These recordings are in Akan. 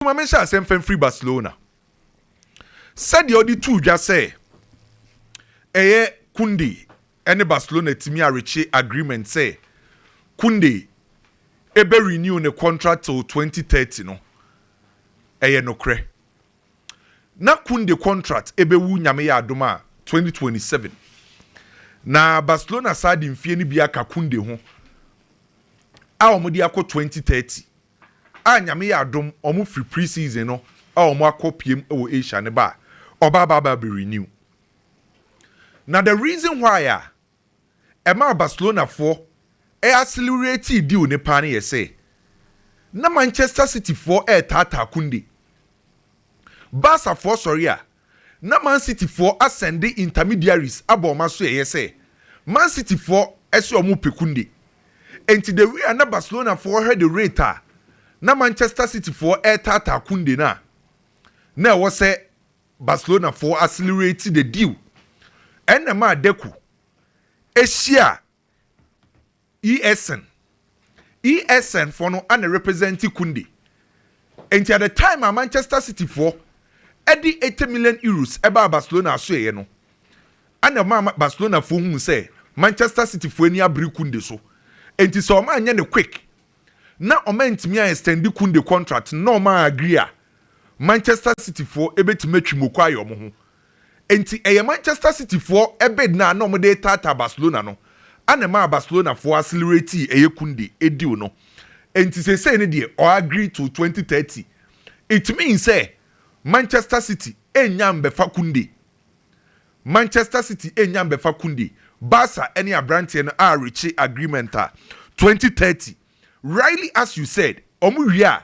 ma menhyɛ aseɛ mfa mfiri Barcelona. Sɛdeɛ ɔde tuu dwa sɛ ɛyɛ Koundé ne Barcelona tumi a rekye agreement sɛ Koundé ɛbɛ renew ne contract till 2030 no, ɛyɛ nokorɛ. Na Koundé contract ɛbɛwu Nyame yɛ adom a 2027. Na Barcelona saa de mfeɛ no bi aka Koundé ho a wɔde akɔ 2030. a Nyame yɛ adom ɔmo fri pre season no a ɔmo akɔ piem wɔ Asia no ba a, ɔba aba aba be renew. Na the reason why a ɛmaa Barcelona foɔ ɛ acceleratii deal no paa no yɛ sɛ, na Manchester City foɔ ɛɛtaataa Kounde. Barca foɔ sɔre a, na Man City foɔ asɛnde intermediaries abɔ wɔn asoɛeɛ sɛ Man City foɔ sɛ wɔn repɛ Kounde. Enti the way a na Barcelona foɔ hwɛ the rate a na Manchester City foɔ retaataa Kounde no a, na ɛwɔ sɛ Barcelona foɔ accelerate the deal. Ɛnna ɛmaa Deco hyia ESN ESN foɔ no ana represent Kunde nti at the time a Manchester City foɔ ɛde eighty million euros ɛbaa Barcelona asoɛyɛ no ana ɔmaa Barcelona foɔ hunu sɛ Manchester City foɔ ani abere Kunde so nti sɛ ɔmaa nyɛ ne quick na ɔmaa ntumi a extend Kunde contract na ɔmaa agree a Manchester City foɔ ɛbɛtumi atwi moko ayɛ ɔmo ho Enti ɛyɛ Manchester Cityfoɔ bid no a na wɔde retaataa Barcelona no na ɛmaa Barcelonafoɔ acceleratii ɛyɛ Kounde deal no. Enti seesei no deɛ ɔagree to twenty thirty. It means sɛ Manchester City nnya mmɛfa Kounde. Manchester City nnya mmɛfa Kounde. Barca ne aberanteɛ no areakye agreement a twenty thirty. Rightly as you said, wɔwie a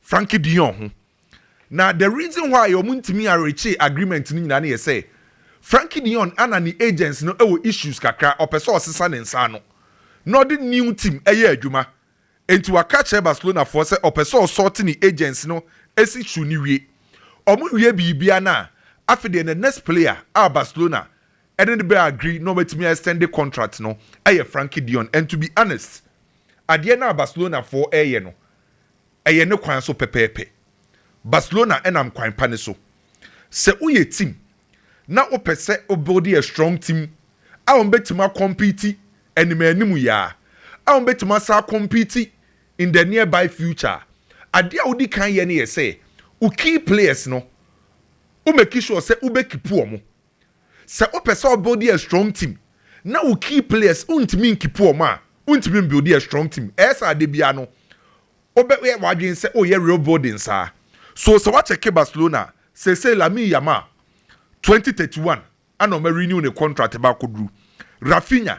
Frankie Dion ho. Na the reason why a wɔn ntumi a reachee agreement no nyinaa no yɛ sɛ Frankie Dion ana ne agents no wɔ issues kakra, ɔpɛ sɛ ɔsesa ne nsa ano na ɔde new team yɛ adwuma nti waka akyerɛ Barcelona foɔ sɛ ɔpɛ sɛ ɔsort ne agents no si shoe no wie. Wɔn wie biribiara no a, afei deɛ the next player a Barcelona ɛne no bɛ agree na wɔatumi a extend contract no yɛ Frankie Dion and to be honest adeɛ no a Barcelona foɔ ɛreyɛ no Ɛyɛ ne kwan so pɛpɛɛpɛ. Barcelona nam kwan pa no so. Sɛ woyɛ team na wopɛ sɛ wo build a strong team a wɔbɛtumi a compete anim anim yi ara a wɔbɛtumi asan a compete in the nearby future a, adeɛ a wodi kan yɛ no yɛ sɛ wo key players no wo make sure sɛ wobɛkipu wɔn Sɛ wopɛ sɛ wo build a strong team na wo key players wontumi nkeep wɔn a, wontumi mbuild a strong team. Ɛyɛ sɛ adeɛ biara no wobɛyɛ w'adwene sɛ woreyɛ real building saa. So sɛ woakyɛke Barcelona a, seesei Lamine Yamal, twenty thirty one, ɛna wɔarenew ne contract ba akɔduru. Raphinha,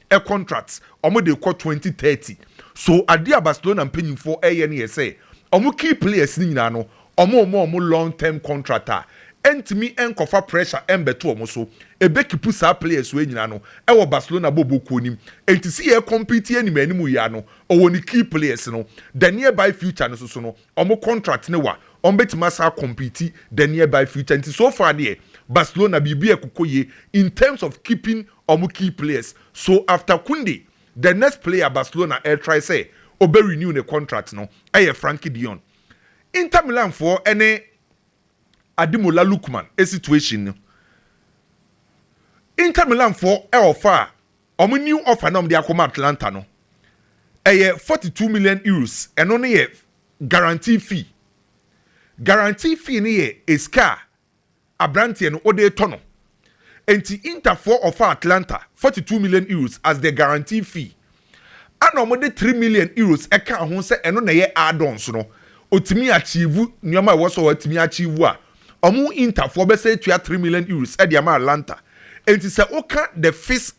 ɛ contract ɔmo de kɔ twenty thirty so adeɛ a Barcelona mpanyinfoɔ ɛyɛ no yɛ sɛ ɔmo key players no nyinaa no ɔmo mɔ ɔmo long term contract a ɛntumi ɛnkɔfa pressure ɛmbɛto ɔmo so ɛbɛ keepu saa players wei nyinaa no ɛwɔ Barcelona bɔbɔ kuo no mu ɛnti sɛ yɛ compete anim anim yi ara no ɔwɔ ne key players no the nearby future no soso no ɔmo contract no wa ɔmo bɛtumi asan a compete the nearby future ɛnti so far deɛ Barcelona biribi ɛkokɔ yie in terms of keeping wɔn key players so after Kounde, the next player Barcelona retry sɛ ɔbɛ renew ne contract no yɛ Frankie de Jong. Inter Milan foɔ ne Ademola Lookman situation no, Inter Milan foɔ offer a wɔn new offer na wɔn de akɔma Atlanta no, ɛyɛ 42 million euros, ɛno no yɛ guarantee fee. Guarantee fee no yɛ sika a abranteɛ no wode retɔ no nti Inter foɔ ɔfa Atlanta forty two million euros as the guarantee fee ɛna wɔde three million euros ɛkaa ho sɛ ɛno na ɛyɛ add-ons no ɔtumi achieve nneɛma ɛwɔ sɛ ɔtumi achieve a wɔn Inter foɔ bɛsɛ atua three million euros ɛde ama Atlanta nti sɛ woka the fifth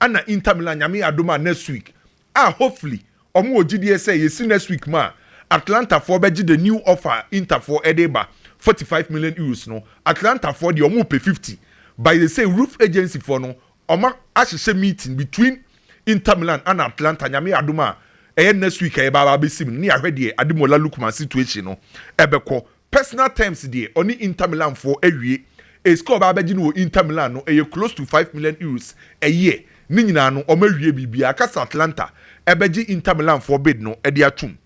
Ana Inter Milan nyame adom a next week a hopefully ɔmo wɔ gyidie sɛ yɛsi next week mu a Atlanta foɔ bɛgye the new offer a Inter foɔ ɛde reba forty five million euros no Atlanta foɔ deɛ ɔmo pɛ fifty but they say roof agency foɔ no ɔmo ahyehyɛ meeting between Inter Milan ana Atlanta nyame adom a ɛyɛ next week a yɛbɛ aba abɛsi mu no ne yɛahwɛ deɛ Ademola Lookman situation no ɛbɛkɔ Personal terms deɛ ɔne Inter Milan foɔ awie a sika a ɔbɛ abɛgye no wɔ Inter Milan no ɛyɛ close to five million Euros a year, ne nyinaa no ɔmo awie biribiara ka sɛ Atlanta ɛbɛgye Inter Milan foɔ bid no ɛde atom.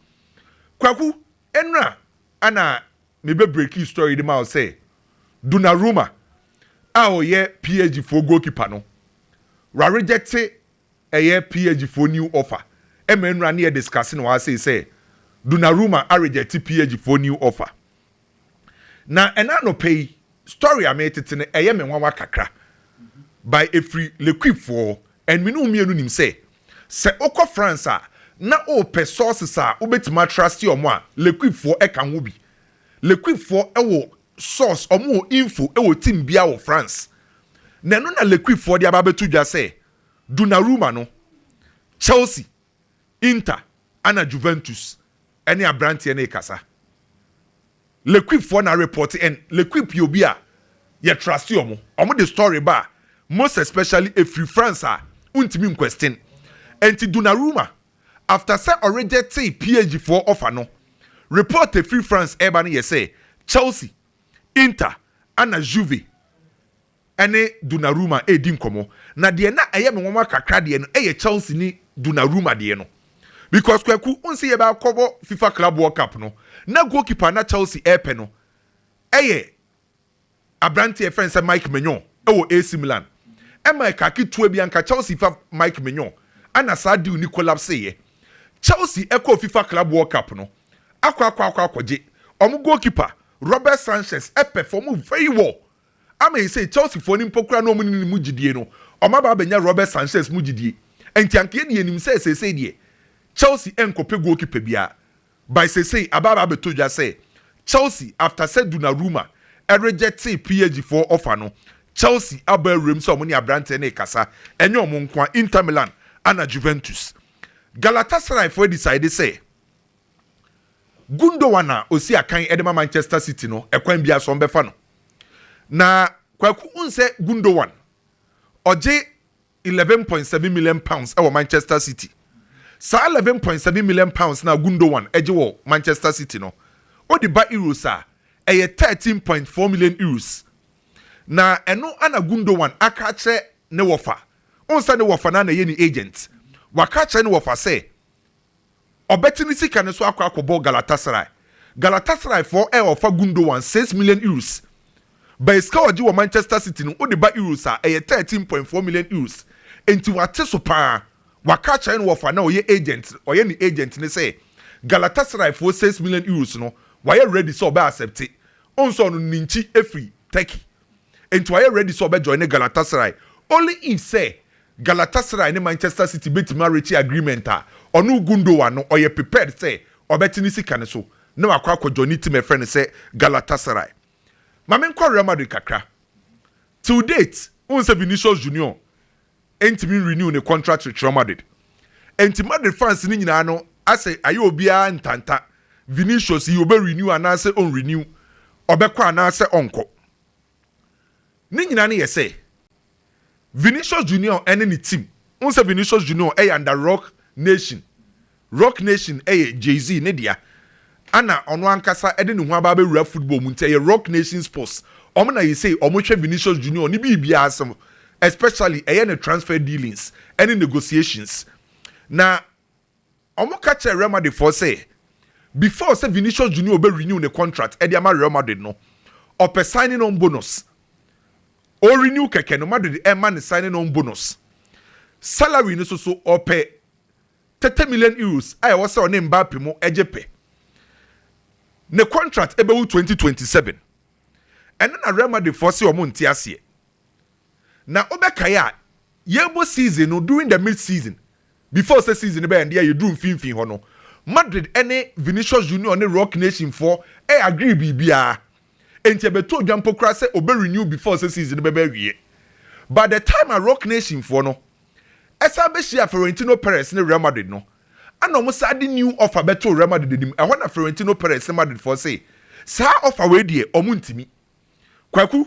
Kwaku, ɛnora ɛna me bɛ breaki story de ma wo sɛ Donnarumma a ɔyɛ PSG foɔ goalkeeper no, w'arejecte Ɛyɛ PAG foɔ new offer ɛma nnura ne yɛ discuss no wɔ ha sei sɛ Donnarumma a reject PAG foɔ new offer. Na ɛna anɔpa yi story a meretete no ɛyɛ me nwanwa kakra by ɛfiri L'Equipe foɔ and me ne wo mmienu nim sɛ sɛ wokɔ France a na wopɛ sources a wobɛtumi atruste wɔn a L'Equipe foɔ ɛka ho bi. L'Equipe foɔ wɔ source, wɔn wɔ info wɔ team biara wɔ France na ɛno na L'Equipe foɔ de aba abɛto dwa sɛ Donnarumma no, Chelsea, Inter ɛna Juventus ɛne abranteɛ no rekasa. L'Equipe foɔ na report and L'Equipe yɛ obi a yɛ trust wɔn. Wɔn de story ba a most especially ɛfiri France a wontumi nquestion. Ɛnti Donnarumma after sɛ ɔrejectee PSG foɔ offer no, report a ɛfiri France ɛreba no yɛ sɛ Chelsea, Inter ɛna Juve ne Donnarumma redi nkɔmmɔ, na deɛ na ɛyɛ me nwanwa kakra deɛ no yɛ Chelsea ne Donnarumma deɛ no. Because Kwaku, wohu sɛ yɛbɛakɔbɔ Fifa Club World Cup no, na goalkeeper a na Chelsea repɛ no yɛ aberanteɛ a yɛfrɛ no sɛ Mike Maignan wɔ AC Milan. Ɛma ɛkaa ketewa bi anka Chelsea fa Mike Maignan, ɛna saa deal no collapseeɛ. Chelsea kɔɔ Fifa Club World Cup no akɔ akɔ akɔ akɔgye wɔn goalkeeper Robert Sanchez, ɛperform very well Ama eisei Chelseafoɔ no mpo koraa na wɔnni ne mu gyidie no, wɔaba abɛnya Robert Sanchez mu gyidie. Enti anka yɛn deɛ yɛnim sɛ seesei deɛ Chelsea ɛnkɔpɛ goalkeeper biara. By seesei aba aba abɛtɔ dwa sɛ Chelsea after sɛ Donnarumma rejectee PSG foɔ offer no, Chelsea abɔ awuram sɛ wɔne aberanteɛ no rekasa. Ɛnyɛ wɔn nkoa, Inter Milan ana Juventus. Galatasaray foɔ adecide sɛ. Gundogan a ɔsi akan de ma Manchester City no, ɛkwan biara so wɔbɛfa no. Na Kwaku wohu sɛ Gundogan ɔgye eleven point seven million pounds wɔ Manchester City. Saa eleven point seven million pounds no a Gundogan gye wɔ Manchester City no, wode ba Euros a, ɛyɛ thirteen point four million Euros. Na ɛno na Gundogan aka akyerɛ ne wɔfa. Wohu sɛ ne wɔfa no ara na ɛyɛ ne agent. Waka akyerɛ ne wɔfa sɛ Ɔbɛte ne sika no so akɔ akɔbɔ Galatasaray. Galatasaray foɔ ɛɛ ɔfa Gundowan six million euros. By sika ɔgye wɔ Manchester City no wode ba euros a ɛyɛ thirteen point four million euros. Enti wate so paa. Waka akyerɛ no wɔfa na ɔyɛ agent ɔyɛ ne agent no sɛ Galatasaray foɔ six million euros no wayɛ ready sɛ ɔbɛ accept. Wohu sɛ ɔno no ne nkyi ɛfiri Turkey. enti wayɛ ready sɛ ɔbɛ joine Galatasaray. Only if sɛ Galatasaray ne Manchester City bɛtumi a reache agreement a, ɔno Gundogan no ɔyɛ prepared sɛ ɔbɛte ne sika no so na wakɔ akɔ joine team a ɛfrɛ no sɛ Galatasaray. Ma menkɔ Real Madrid kakra. Till date, wohu sɛ Vinicius Junior ntumi n renew ne contract with Real Madrid nti Madrid fans no nyinaa no asɛ ayɛ obiara ntanta Vinicius yi ɔbɛ renew anaasɛ ɔn renew, ɔbɛkɔ anaasɛ ɔnkɔ. Ne nyinaa no yɛ sɛ Vinicius Junior ɛne ne team, wohu sɛ Vinicius Junior ɛyɛ under rock nation Roc Nation yɛ Jay-Z ne dea a na ɔno ankasa de ne ho aba abɛwura football mu nti ɛyɛ Roc Nation Sports. Wɔn na yɛsei wɔn hwɛ Vinicius Junior ne biribiara so especially ɛyɛ ne transfer dealings ne negotiations. Na wɔn ka kyerɛɛ Real Madrid foɔ sɛ before sɛ Vinicius Junior bɛ renew ne contract de ama Real Madrid no ɔpɛ signing on bonus. Ɔ renew kɛkɛ no Madrid mma no signing on bonus. Salary no so so ɔpɛ tete million euros a ɛwɔ sɛ ɔne Mbappe mo gye pɛ. Ne contract bɛwu twenty twenty seven. Ɛno na Real Madrid foɔ se ɔmo nte aseɛ. Na wobɛkae a, yɛɛbɔ season no during the mid season, before sɛ season no bɛ ɛnde a yɛduru mfimfini hɔ no, Madrid ne Vinicius Junior ne Roc Nation foɔ agree biribiara. Enti ɛbɛto odwa mpo koraa sɛ ɔbɛ renew before sɛ season no bɛba awieɛ. By the time a Roc Nation foɔ no ɛsan bɛhyiaa Florentino Perez ne Real Madrid no, ɛna wɔn san de new offer bɛtoo Real Madrid anim. Ɛhɔ na Florentino Perez ne Madrid foɔ se, saa offer wei deɛ wɔn ntumi. Kwaku,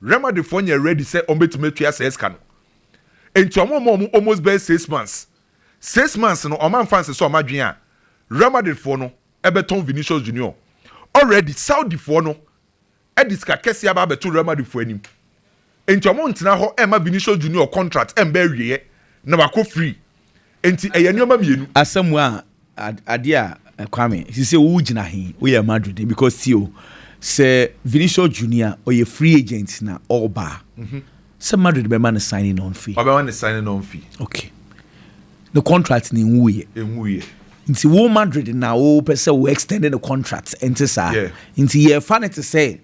Real Madrid foɔ nyɛ ready sɛ wɔn bɛtumi atua saa sika no nti wɔn ma wɔn almost bɛyɛ six months six months no wɔn anfa ansesa wɔn adwene a Real Madrid foɔ no bɛtɔn Vinicius Junior already Saudi foɔ no de sika kɛseɛ aba abɛto Real Madrid foɔ anim nti wɔn ntena hɔ mma Vinicius Junior contract mba awieɛ na wakɔ free Enti ɛyɛ nneɛma mmienu. Asamoah a ade a Kwame sisi wo gyina he wo yɛ Madrid he because tie o sɛ Vinicius Junior ɔyɛ free agent na ɔɔba a sɛ Madrid bɛ ma no signing on fee. Ɔbɛ ma no signing on fee. Ok ne contract no nwu yɛ. Enwu yɛ. Nti wo Madrid na wo pɛ sɛ wo extend ne contract ɛnte saa? Yeah. Nti yɛ fa no te sɛ.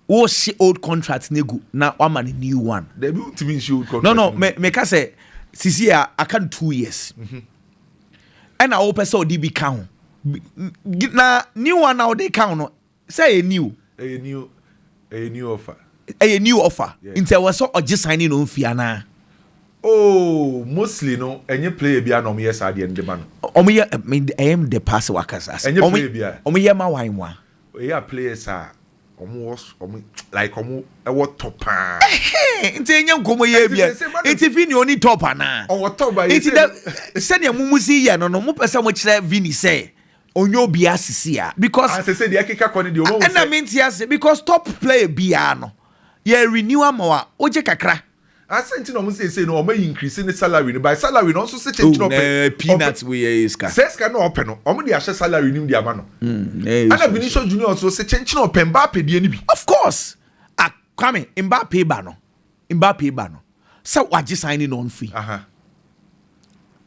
Wo hye old contract ne gu na wama ne new one. Dabi wo ntumi nhye old contract. No no me me ka sɛ sisi a aka no two years. Mhm. Ɛna wo pɛ sɛ ɔde bi ka ho. Na new one na ɔde ka ho no sɛ ɛyɛ new. Ɛyɛ new ɛyɛ new offer. Ɛyɛ new offer. Nti ɛwɔ sɛ ɔgye sign in ɔmfie anaa. Oh mostly no ɛnyɛ player bi a na ɔmo yɛ saa deɛ no de ma no. Ɔmo yɛ ɛyɛ de pa sɛ wakasa. Ɛnyɛ player bi a. Ɔmo yɛ ma wanwa. Ɛyɛ a players a Ɔmo wɔ ɔmo like ɔmo ɛwɔ tɔ paa. Ɛhɛn nti enye nkɔmɔ yɛ ebia nti Vinny oni top anaa. Ɔwɔ top ba yɛ sɛ. Nti dɛ sɛdeɛ mo mo si yɛ no no mo pɛ sɛ mo kyerɛ Vinny sɛ onye obi asisi a because. Ah sese deɛ ɛkeka kɔ ne deɛ ɔmo sɛ. Ɛna mi nti ase because top player biara no yɛ renew ama wa wogye kakra. Ase nti na ɔmo sɛ sei no ɔmo ayi nkirisi ne salary no by salary no ɔnso sekyɛ nti na ɔpɛ. Ooh na peanut wei ɛyɛ sika. Sɛ sika no na ɔpɛ no ɔmo de ahyɛ salary nim de ama no. Ɛna Vinicius Junior nso sekyɛ nti na ɔpɛ Mbappe deɛ no bi. Of course ah Kwame Mbappe ba no Mbappe ba no sɛ wagye signing on fee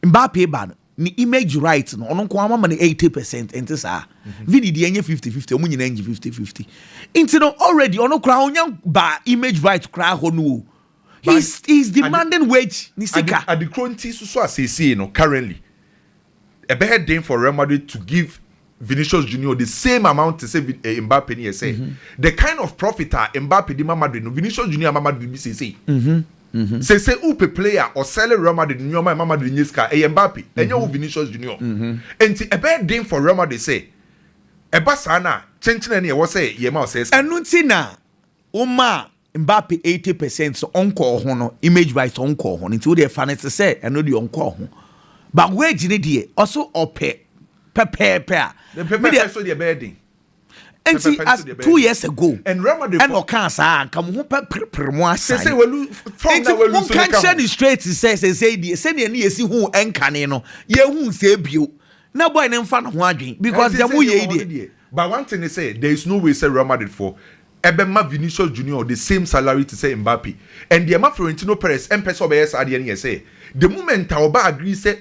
Mbappe ba no Ne image right no ɔno nko ara wama no eighty percent ɛnte saa Vinny deɛ ɛnyɛ fifty fifty ɔmo nyinaa ngye fifty fifty nti no already ɔno koraa ɔnya ba image right koraa hɔ no o he But is he is ade demanding wage ne ade sika ade koro nti soso a seesei no currently ɛbɛyɛ den for Real Madrid to give Vinicius Junior the same amount te sɛ eh, Mbappe no yɛ sɛ mm-hmm. the kind of profit a Mbappe de ma Madrid no Vinicius Junior ama Madrid bi seesei mm-hmm. mm-hmm. seesei wopɛ player a ɔsɛle Real Madrid nneɛma ɛma Madrid nye sika ɛyɛ Mbappe ɛnyɛ wo Vinicius Junior nti ɛbɛyɛ den for Real Madrid sɛ ɛba saa no a kyenkyenɛ ne ɛwɔ sɛ yɛma ɔsɛe ɛno nti na woma Mbappe eighty percent sɛ ɔnkɔɔ ho no image wise ɔnkɔɔ ho no nti wodeɛ fa no te sɛ ɛno deɛ ɔnkɔɔ ho but wage no deɛ ɔso ɔpɛ pɛpɛɛpɛ a Ne pɛpɛɛpɛ medeɛ so deɛ ɛbɛyɛ den. Nti Pɛpɛɛpɛ no as so deɛ ɛbɛyɛ two den. years ago And Real Madrid ɛna fo ɔkaa saa a nka mo ho pɛ perepere mo asan. sese walu form Nti na walu so monka no ka nkyerɛ ho. no straight sɛ sɛsɛi deɛ sɛdeɛ ne yɛsi huu ɛnkane no yɛnhu nsɛɛ bio na boy no mfa ne ho adwen because Ɛnti deɛ sɛ deɛ moyɛ yi wɔwɔ no deɛ. deɛ. But one thing ne sɛ there is no way sɛ Real Madrid foɔ ɛbɛma Vinicius Junior the same salary te sɛ Mbappe and deɛ ɛma Florentino Perez mpɛ sɛ ɔbɛyɛ saa adeɛ no yɛ sɛ the moment a ɔba agree sɛ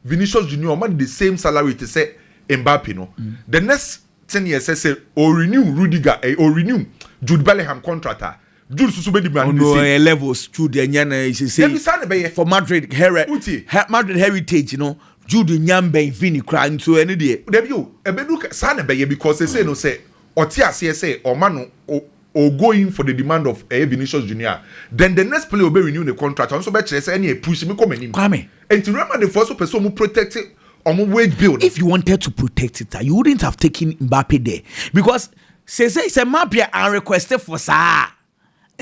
Vinicius Junior ɔma no the same salary te sɛ Mbappe no the next thing yɛ sɛ sɛ ɔ renew Rudiger ɛɛ ɔ renew Jude Bellingham contract a Jude nso so bɛdi ma no the Ɔno same. ɛyɛ levels Jude ɛnyɛ no Dabi seesei saa na ɛbɛyɛ for Madrid hɛrɛ wotie. hɛ Madrid heritage no Jude nnya mmɛn Vini koraa nso ɛno deɛ. Dabi o ɛbɛduru ka saa na ɛbɛyɛ because seesei no sɛ ɔte aseɛ sɛ ɔma no o o go in for the demand of ɛyɛ Vinicius Junior then the next player ɔbɛ renew ne contract ɔno nso bɛ kyerɛ sɛ ɛneɛ push me kɔ m'anim Kwame. ɛnti Real Madrid foɔ nso pɛ sɛ ɔmo protect ɔmo wage bill no. If you wanted to protect it a you wouldn't have taken Mbappe there because seisei sɛ Mbappe a request for saa a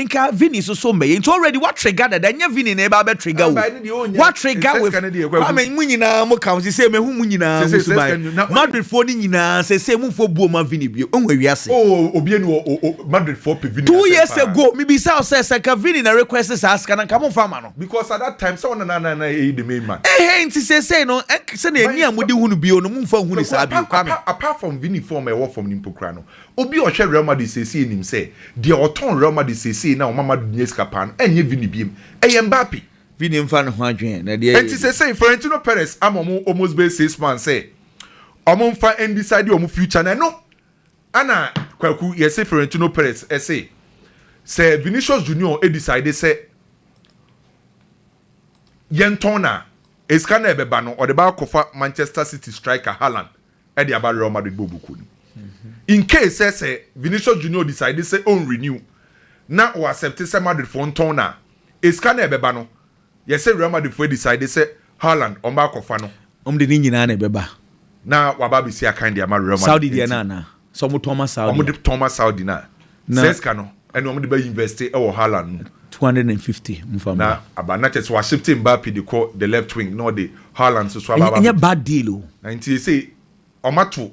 Nka Vinny so so mbɛyɛ nti already wa trigger dada ɛnyɛ Vinny na ɛba abɛ trigger o wa trigger with Kwame mo nyinaa mo ka ho sese mehu mo nyinaa mo suban Madrid foɔ ne nyinaa sese mo nfo buo ma Vinny bio ehu ewia se oh obi enu o Madrid foɔ pe Vinny two years ago mi bisa o sɛ sɛ ka Vinny na request saa sika na nka mo nfa ma no because at that time sɛ ɔna na na na eyi the main man ehe nti sese no sɛ na eni a mo de hu no bio no mo nfa hu ne saa bio Kwame apart from Vinny foɔ ma ɛwɔ fam ni mpo kura no Obi a ɔhwɛ Real Madrid seesei nim sɛ deɛ ɔtɔn Real Madrid seesei na ɔma Madrid nya sika paa no ɛnyɛ Vini biom, ɛyɛ Mbappe. Vini mfa ne ho adwene na deɛ ɛyɛ Enti ni. seesei Florentino Perez ama wɔn almost bɛyɛ six months sɛ wɔn mfa ndecide wɔn future no ɛno ɛna Kwaku yɛse Florentino Perez ɛse sɛ Vinicius Junior decide sɛ yɛntɔn no a esika no a ɛbɛba no ɔde bɛakɔfa Manchester City striker Haaland ɛde aba Real Madrid bɔɔl bukuo no mu. In case sɛ sɛ Vinicius Junior decide sɛ ɔn renew na ɔ accept sɛ Madrid foɔ ntɔn no a, esika no a ɛbɛba no, yɛse Real Madrid foɔ decide sɛ Haaland ɔmba akɔfa no. Ɔmo de ne nyinaa na ɛbɛba. Na waba abɛsi akan de ama Real Madrid. Saudi deɛ no anaa? Sɛ ɔmo tɔn ma Saudi a? Ɔmo de tɔn ma Saudi no a, Na. Saa sika no ɛna wɔn de bɛ invɛste ɛwɔ Haaland mu. Two hundred and fifty nfa Na mmra. aba na kyerɛ sɛ w'ashifte Mbappe de kɔ the left wing na ɔde Haaland nso so aba Ɛnyɛ aba ɛnyɛ abedi. bad deal o. Na nti sesei wɔn ato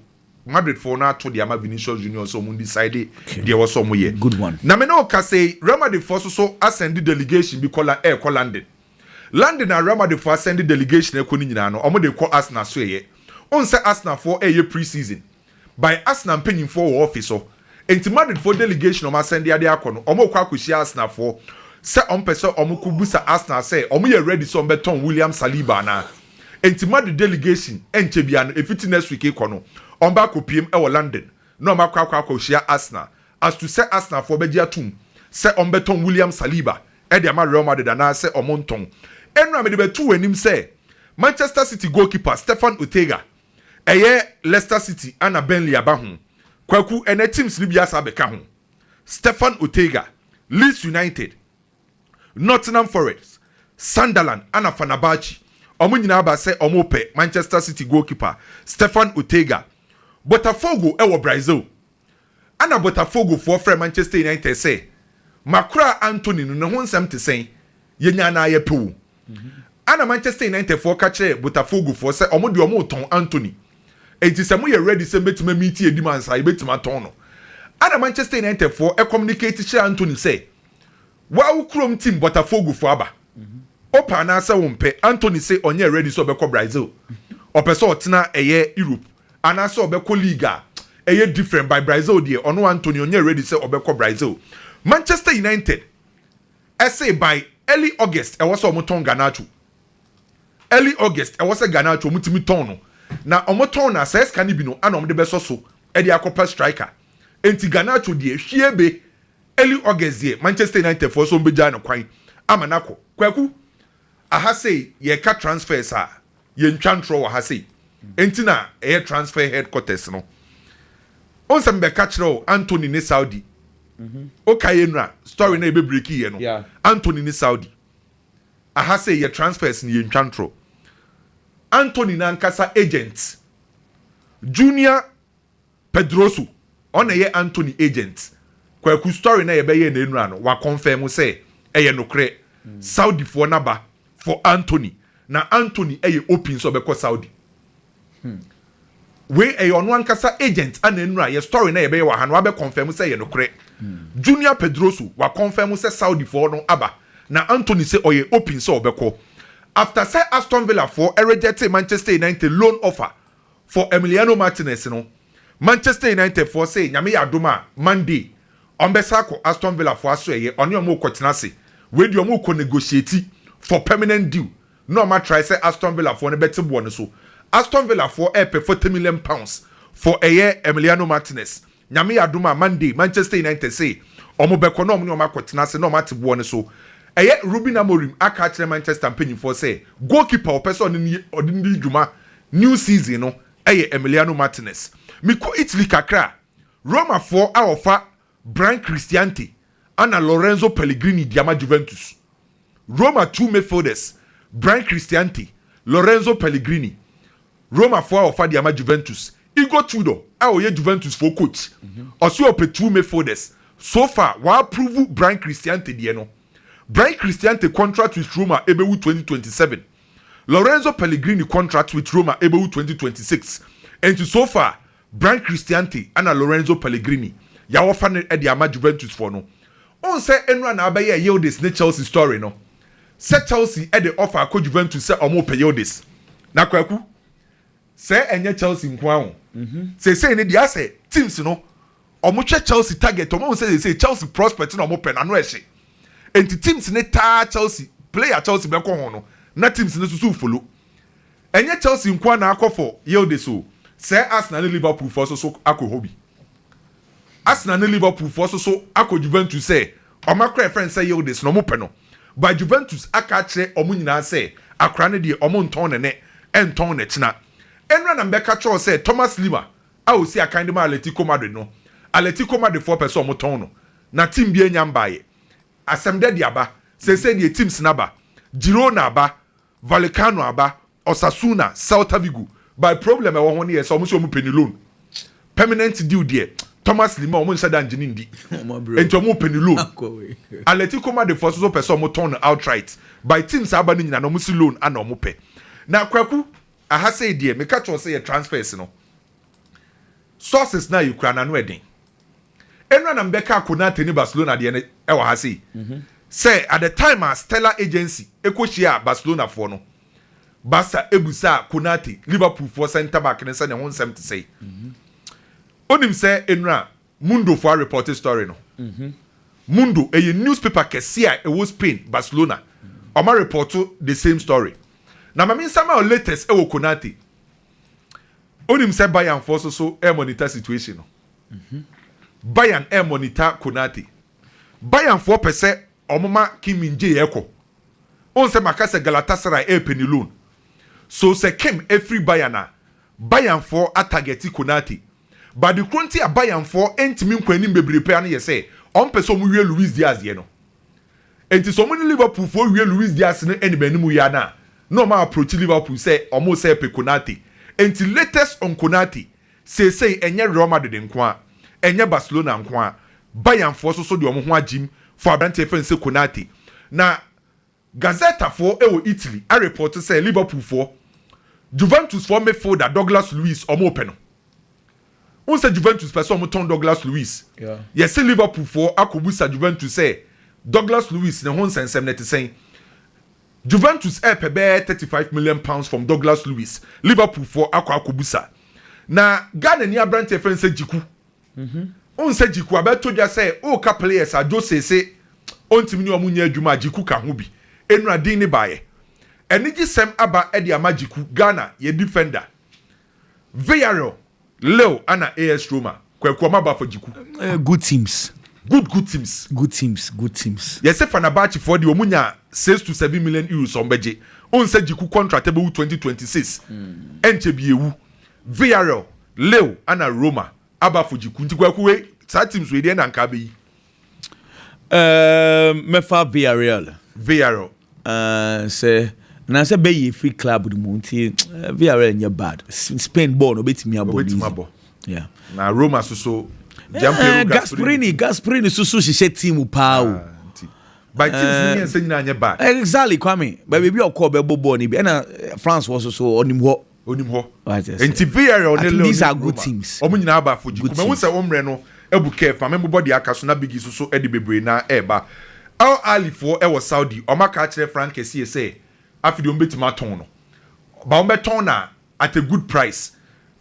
Madrid foɔ no ato de ama Vinicius Junior sɛ wɔn decide Okay deɛ ɛwɔ sɛ wɔn yɛ. good one. Na me ne wo kasa yi Real Madrid foɔ nso so asɛnde delegation bi kɔ la ɛɛkɔ London. London a Real Madrid foɔ asɛnde delegation ɛɛkɔ no nyinaa no wɔn de rekɔ Arsenal so ɛyɛ. Wohu sɛ Arsenal foɔ ɛɛyɛ pre season. by Arsenal mpanyimfoɔ wɔ office hɔ enti Madrid foɔ delegation a wɔn asɛn de ade akɔ no wɔn rekɔ akɔhyia Arsenal foɔ sɛ wɔn pɛ sɛ wɔn kɔ bisa Arsenal sɛ wɔn yɛ ready sɛ wɔn bɛ tɔn William Saliba anaa enti Madrid delegation ɛnkyɛ biara no efiti next week rekɔ no wɔn bɛ akɔ piem ɛwɔ London na wɔn akɔ akɔ akɔhyia Arsenal as to sɛ Arsenal foɔ bɛgye atum sɛ wɔn bɛ tɔn William Saliba ɛde ama Real Madrid anaa sɛ wɔn ntɔn ɛno a mede bɛto wɔn anim sɛ Manchester City goalkeeper Stefan Ortega Ɛyɛ Leicester City ana Burnley aba ho? Kwaku, ɛnɛ teams no bi asan abɛka ho. Stefan Ortega, Leeds United, Nottingham Forest, Sunderland ana Fenerbahce, wɔn nyinaa aba sɛ wɔrepɛ Manchester City goalkeeper Stefan Ortega. Botafogo wɔ Brazil Ɛnna Botafogofoɔ frɛɛ Manchester United sɛ, Moakoraa Antony no, ne ho nsɛm te sɛn? Yɛnya anaa yɛpɛ o. Ɛnna Manchester Unitedfoɔ ka kyerɛɛ Botafogofoɔ sɛ wɔn deɛ wɔretɔn Antony, enti sɛ moyɛ ready sɛ mobɛtumi amiiti yɛn demand saa a, yɛbɛtumi atɔn no. Ɛnna Manchester Unitedfoɔ communicate kyerɛɛ Antony sɛ, Waa wo kurom team Botafogofo aba wopɛ anaasɛ wompɛ Antony se ɔnyɛ ready sɛ ɔbɛkɔ Brazil ɔpɛ sɛ ɔtena ɛyɛ Europe anaasɛ ɔbɛkɔ league a ɛyɛ different by Brazil deɛ ɔno Antony ɔnyɛ ready sɛ ɔbɛkɔ Brazil Manchester United se by early August ɛwɔ sɛ ɔmotɔn Garnacho early August ɛwɔ sɛ Garnacho ɔmotumi tɔn no na ɔmotɔn no a saa sika no bi no ana ɔmde bɛsɔ so de akɔpɛ striker enti Garnacho deɛ hwie be Early August deɛ Manchester United foɔ sɛ ɔmbɛgyaa no kwan ama no akɔ. Kwaku, aha sei yɛka transfers a yɛntwa ntorɔ wɔ ha sei, ɛnti na ɛyɛ transfer headquarters no. Wohu sɛ mebɛka kyerɛ wo Antony ne Saudi, wokae Enra story no a yɛbɛbreakiiɛ no, Antony ne Saudi. Aha sei yɛ transfers no yɛntwa ntorɔ. Antony no ankasa agent, Junior. Pedroso ɔna ɛyɛ Anthony agent. Kwaku story na yɛbɛyɛɛ na ɛnura no wa confirm sɛ ɛyɛ nokorɛ. Saudi foɔ na ba for Anthony na Anthony ɛyɛ open sɛ ɔbɛkɔ Saudi. Wei ɛyɛ ɔno ankasa agent ana ɛnura yɛ story na yɛbɛyɛ wɔ ha no wa bɛ confirm sɛ ɛyɛ nokorɛ. Junior Pedroso wa confirm sɛ Saudi foɔ no aba na Anthony sɛ ɔyɛ open sɛ ɔbɛkɔ. After sɛ Aston Villa foɔ rejectee Manchester United loan offer for Emiliano Martinez no, Manchester United foɔ se Nyame yɛ adom a, Monday, wɔn bɛsan akɔ Aston Villa foɔ asoɛeɛ, ɔne wɔn rekɔtena ase. Wei deɛ wɔn rekɔ negotiate for permanent deal na wɔn atrae sɛ Aston Villa foɔ no bɛte boɔ no so. Aston Villa foɔ repɛ forty million pounds for ɛyɛ Emiliano Martinez Nyame yɛ adom a Monday Manchester United se wɔn bɛkɔ na wɔn ne wɔn akɔ tena ase na wɔn ate boɔ no so. Ɛyɛ Ruben Amorim aka akyerɛ Manchester mpanyinfoɔ sɛ goalkeeper a wɔpɛ sɛ ɔne no ɔde no di dwuma new season no yɛ Emiliano Martinez. Mekɔ Italy kakra a, Romafoɔ a wɔfa Brian Cristante ana Lorenzo Pellegrini de ama Juventus. Roma two midfielders Bryan Cristante, Lorenzo Pellegrini, Romafo a wɔfa de ama Juventus, Igor Tudor a ɔyɛ Juventus fo coach, ɔse ɔpɛ two midfielders. So far, wɔaprovu Bryan Cristante deɛ no. Bryan Cristante contract with Roma ɛbɛwu twenty twenty seven. Lorenzo Pellegrini contract with Roma ɛbɛwu twenty twenty six. Enti so far, Brian Cristante na Lorenzo Pellegrini yɛ a wɔfa no de ama Juventus foɔ no. Wohu sɛ nnora na abɛyɛɛ Yildiz ne Chelsea story no? Sɛ Chelsea de offer kɔ Juventus sɛ wɔpɛ Yildiz. Na Kwaku, sɛ ɛnyɛ Chelsea nko ara o. Seesei no deɛ asɛ teams no wɔhwɛ Chelsea target, wɔahu sɛ seesei Chelsea prospect na wɔpɛ no, ano ɛhye. Enti teams no taa Chelsea, player a Chelsea bɛkɔ ho no na teams no nso so refolo. Ɛnyɛ Chelsea nko ara na akɔ for Yildiz o, sɛɛ Arsenal ne Liverpool foɔ nso so akɔ hɔ bi. Arsenal ne Liverpool foɔ nso so akɔ Juventus sɛ wɔn akora a yɛfrɛ no sɛ Yildiz no wɔpɛ no, but Juventus aka akyerɛ wɔn nyinaa sɛ akora no deɛ wɔn ntɔn no nnɛ, ɛntɔn no kyena. Ɛnora na mebɛka kyerɛ wo sɛ Thomas Lemar a ɔsi akan de ma Atletico Madrid no, Atletico Madrid foɔ pɛ sɛ wɔtɔn no, na team biara nnya mbaeɛ. Asɛm dɛ de aba, seesei deɛ teams no aba, Girona aba, Valicano aba Osasuna, Celta Vigo but problem ɛwɔ ho ne yɛ sɛ ɔmo sɛ ɔmo pɛ ne loan permanent deal deɛ Thomas Lemar ɔmo nhyɛ da ngye ne ndi nti ɔmo pɛ ne loan Atletico Madrid foɔ nso so pɛ sɛ ɔmo tɔn no outright but teams aba no nyina no ɔmo se loan ana ɔmo pɛ na Kwaku aha sei deɛ meka kyerɛ wo sɛ yɛ transfers no sources no a yɛkura no ano ɛden. Ɛno a na mebɛka Konate ne Barcelona deɛ no wɔ ha sei. Sɛ at the time a Stella Agency kɔhyiaa Barcelonafoɔ no, Barca busaa Konate, Liverpoolfoɔ centre back no sɛ ne ho nsɛm te sɛn. Wonim sɛ nnora Mundofoɔ arepɔte story no? Mundo, ɛyɛ newspaper kɛseɛ a ɛwɔ Spain, Barcelona. Wɔarepɔto the same story. Na ma mensa ma wo latest wɔ Konate. Wonim sɛ Bayernfoɔ nso so remonita situation no? Bayern ɛremmɔ ne Tah Konate. Bayern foɔ pɛ sɛ ɔmo ma Kim Min Jae ɛkɔ. Wohu sɛ maka sɛ Galatasaray ɛrepɛ ne loan. So sɛ Kim ɛfiri Bayern a, Bayern foɔ a target Konate. But de koro nti a Bayern foɔ ɛntumi nkɔ anim bebree paa no yɛ sɛ ɔmo pɛ sɛ ɔmo wie Luis Diaz deɛ no. Nti sɛ ɔmo ne Liverpool foɔ wie Luis Diaz no animanimu yɛ a na, na ɔmo a approach Liverpool sɛ ɔmo sɛ pɛ Konate. Nti latest on Konate. Seesei ɛnyɛ Real Madrid nko ara, ɛnyɛ Barcelona nko ara, Bayernfoɔ nso so de wɔn ho agyim for aberanteɛ yɛfrɛ no sɛ Konate. Na Gazzetafoɔ wɔ Italy arepɔɔto sɛ Liverpoolfoɔ, Juventusfoɔ midfielder Douglas Luiz, wɔrepɛ no. Wohu sɛ Juventus pɛ sɛ wɔtɔn Douglas Luiz. Yɛse Liverpoolfoɔ akɔbusa Juventus sɛ Douglas Luiz ne ho nsɛnsɛm no ɛte sɛn. Juventus repɛ bɛyɛ thirty five million pounds from Douglas Luiz, Liverpool foɔ akɔ akɔbusa. Na Ghanani aberanteɛ fɛn sɛ Djiku. Wohu sɛ Djiku abɛto dwa sɛ woka players a Jose se ɔntumi ne wɔn nyɛ adwuma a, Djiku ka ho bi. Nnura din no baeɛ. Anigyesɛm aba de ama Djiku, Ghana, yɛn defender. Villarreal Leo ana AS Roma, Kwaku Amabo Afɔgyeku. Good teams. Good good teams. Good teams good teams. Yɛse Fenerbahce foɔ deɛ ɔmo nya six to seven million euros ɔmo bɛgye. Wohu sɛ Gyeku contract bɛwu twenty twenty six. Ɛnkyɛ bi ɛwu. Villarreal, Leo ana Roma, Aba Afɔgyeku. Nti Kwaku wei saa teams wei deɛ ɛna anka abɛyi. Ɛɛm mɛfa Villarreal. Villarreal. Ɛɛm sɛ anaasɛ bɛyi efiri club no mu nti Villarreal nyɛ bad. Spain bɔɔl no obetumi abɔ. Obetumi abɔ. Yeah. Na Roma soso. Giampiero eh, Gasperini. Gasperini soso hyehyɛ team paa o. Ah, by teams ni eh, yɛn sɛ nyinaa nyɛ bad. Exactly Kwame. Baabi bi ɔkɔ bɛbɔ bɔɔl ni bi ɛna France wɔ soso ɔnim hɔ. onim hɔ nti VRL ne Lil ne Roma ɔmo nyinaa aba afɔgyi kum ɛho sɛ ommerɛ no abu kɛɛ fa me mbobɔ deɛ aka so na Biggie so so ɛde bebree na ɛɛba Al Ahly foɔ ɛwɔ Saudi ɔmo aka akyerɛ Frank kɛseɛ sɛ afe deɛ ɔmo bɛtumi atɔn no ba ɔmo bɛtɔn na at a good price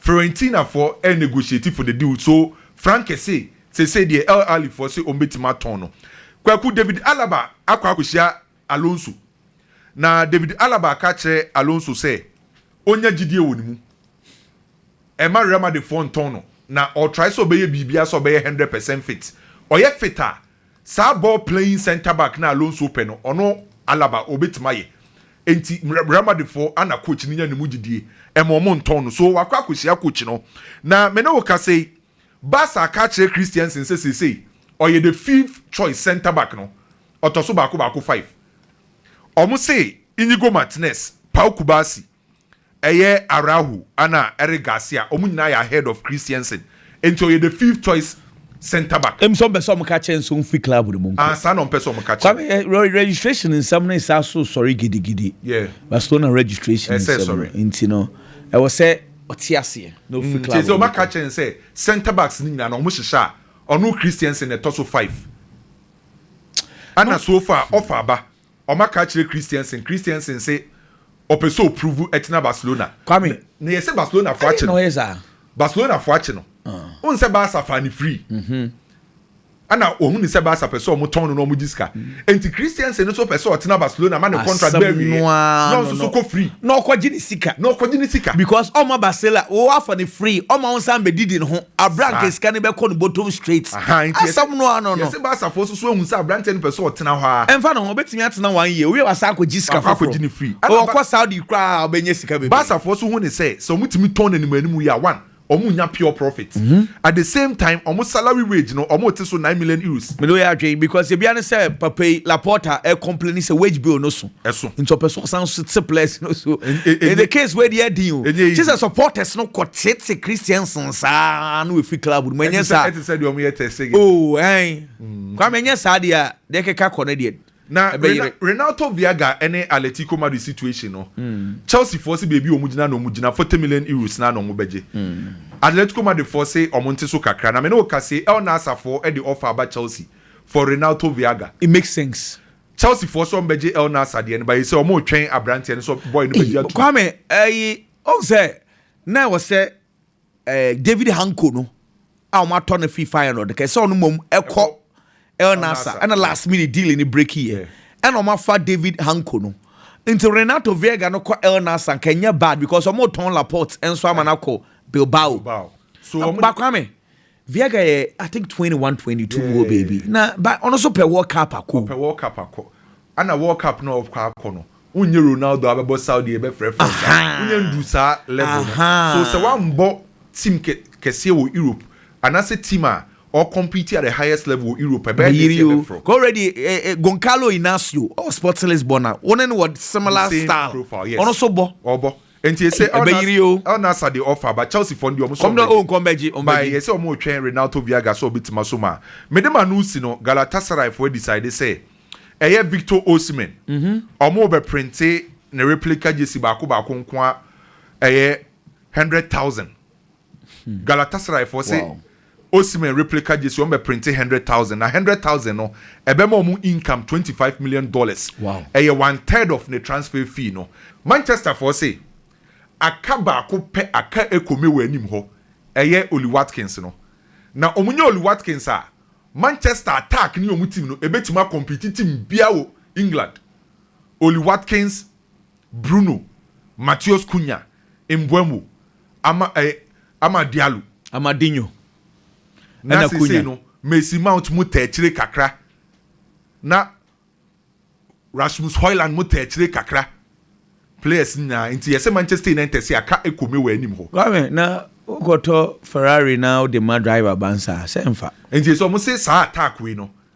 Fiorentina foɔ ɛɛ negotiate for the deal so Frank kɛse sesei deɛ Al Ahly foɔ se ɔmo bɛtumi atɔn no Kwaku David Alaba akɔ akɔhyia Alonso. Na David Alaba ka kyerɛ Alonso sɛ ɔnya gyidie wɔ ne mu. Ɛmma Real Madrid foɔ ntɔn no na ɔretrae sɛ ɔbɛyɛ biribiara sɛ ɔbɛyɛ hundred percent fit. Ɔyɛ fit a, saa ball playing centre back no a Alonso pɛ no, ɔno Alaba ɔbɛtumi ayɛ. Enti Real Madrid foɔ ana coach no nya ne mu gyidie ɛma wɔn ntɔn no. So wakɔ akɔhyia coach no. Na me ne wo kasa yi, Barca aka akyerɛ Christiansen sɛ seesei ɔyɛ the fifth choice centre back no. Ɔtɔ so baako baako five. Ɔmo se Inigo Martinez, Pau Cubarsí, ɛyɛ Araujo ɛna Eric Garcia ɔmo nyinaa yɛ ahead of Christiansen nti ɔyɛ the fifth choice centre back. Em sɛ ɔmpɛ sɛ ɔmo ka kyerɛ no sɛ ɔmfiri club no mu nkɔ. Ah, saa na ɔmpɛ sɛ ɔmo ka kyerɛ no. Kwame, registration nsɛm no resan so resɔre gidigidi. Yeah. Barcelona registration Ɛsɛ nsɛm no sɔre. nti no, ɛwɔ sɛ ɔte aseɛ na ɔfiri Mm, club kyerɛ sɛ no mu ɔmaka kɔ. akyerɛ no sɛ centre backs no nyinaa no ɔmo hyehyɛ a, ɔno Christiansen na ɛtɔ so five. Ana so ofa a ɔfa aba? Ɔma ka kyerɛ Christiansen Christiansen se ɔpɛ sɛ ɔpruvu ɛtena Barcelona. Kwame, na yɛse Barcelona fo akye no. Barcelona fo akye no. Wohu sɛ Barca faa no free. Ana ɔhu no sɛ Barca pɛ sɛ ɔmo tɔn no na ɔmo gye sika. Enti Christiansen no so pɛ sɛ ɔtena Barcelona ma ne contract bɛ awieɛ na ɔnso so kɔ free. Na ɔkɔgye ne sika. Na ɔkɔgye ne sika. Because ɔma Barcela, wo afa no free, ɔma wo nsa mbɛdidi ne ho. Abira anka ah. sika no bɛkɔ no bottom straight. Asɛm no ano no. Yɛsɛ baasafo nso so ehu sɛ aberanteɛ no pɛ sɛ ɔtena hɔ a. Ɛnfa ne ho ɔbɛtumi atena one year owie wasa akɔgye sika foforɔ. Akɔgye ne free. Ɔkɔ Saudi koraa ɔbɛnya sika bebree. Baasafo so hu ne sɛ sɛ wɔn tumi tɔn n'anim anim yi a one wɔn nya pure profit. Mm -hmm. At the same time wɔn salary wage no wɔn te so nine million euros. Mede oyɛ adwene because ebi ane sɛ papa yi Laporta ɛ complain sɛ wage bill no so. ɛso. Nti ɔpɛ sɛ ɔsan so te players no so. In the case wei deɛ ɛdin o. Ɛnyɛ easy. Kye sɛ supporters no kɔ tete Christians nsaa na wɔfiri club no mu. Ɛnyɛ saa. Ɛte sɛ deɛ wɔn yɛ test again. Oh ɛn. Mm. Kwame ɛnyɛ saa deɛ a deɛ ɛkeka kɔ no deɛ. Na Renato Viaga ɛne Atletico Madrid situation no. Mm. Chelsea foɔ se beebi wɔn gyina na wɔn gyina forty million euros na na wɔn bɛgye. Mm. Atletico Madrid foɔ se wɔn nte so kakra na me ne wɔka se El Nassr foɔ ɛde offer aba Chelsea for Renato Viaga. It makes sense. Chelsea foɔ sɛ ɔmo bɛ gye El Nassr deɛ no but ɛsɛ ɔmo retwɛn abranteɛ no sɛ boy no bɛ gye atum. Kwame ɛyi ɔn sɛ na ɛwɔ sɛ ɛɛ David Hanko no a ɔmo atɔ no firi Feyenoord kɛ sɛ ɔno mmom ɛkɔ El Nassr ɛna last minute deal no break yɛ ɛna ɔmo afa David Hanko no nti Renato Viega no kɔ El Nassr anka ɛnyɛ bad because ɔmo tɔn Laporte nso ama no akɔ Bilbao ba Kwame Viagra yɛ I think twenty one twenty two mu hɔ baabi na ba ɔno nso pɛ World Cup akɔ o. Ɔpɛ World Cup akɔ. Ɛna World Cup no a ɔkɔ akɔ no, wonyɛ Ronaldo a abɛbɔ Saudi yɛbɛfrɛ French a, wonyɛ nduru saa level no. So sɛ wambɔ team kɛ kɛseɛ wɔ Europe anaasɛ team a ɔ compete at the highest level wɔ Europe a, ɛbɛyɛ dɛn sɛ yɛbɛfrɛ wo? Already eh eh Goncalo Inacio ɔwɔ Sports Lisbon a wo ne no wɔ similar style, ɔno nso bɔ. Ɔbɔ. Nti ese ɛbɛyiri o. El Nassr de ɔfa aba Chelsea fɔ no deɛ ɔmo sɛ ɔmo bɛgye. Kɔm na o nkɔ mbɛgye ɔmo bɛgye. By yɛ sɛ ɔmo retwɛn Renato Viaga sɛ ɔbɛtim aso mu a. Mede ma no si no Galatasaray foɔ adecide sɛ ɛyɛ Victor Osimhen ɔmo bɛ printe ne replica jersey baako baako nkoa ɛyɛ hundred thousand. Galatasaray foɔ se Osimhen replica jersey wɔn bɛ printe hundred thousand na hundred thousand no ɛbɛma wɔn income twenty five million dollars ɛyɛ one third of ne transfer fee no Manchester foɔ se aka baako pɛ aka ɛkome wɔ anim hɔ ɛyɛ Ollie Watkins no na wɔn nya Ollie Watkins a Manchester attack ne wɔn team no ɛbɛtumi akɔmpiti team biara wɔ England Ollie Watkins Bruno Matheus Cunha, Mbeumo, Ama, eh, Amad Diallo. Amadinho na seesei no Mason Mount mu taa akyire kakra na Rasmus Hojlund mu taa akyire kakra players no nyinaa nti yɛsɛ Manchester United se aka ɛkome wɔ anim hɔ. Kwame, na wokɔtɔ Ferrari na wode ma driver bansa a, sɛ mfa. Nti sɛ wɔn se saa attack wei no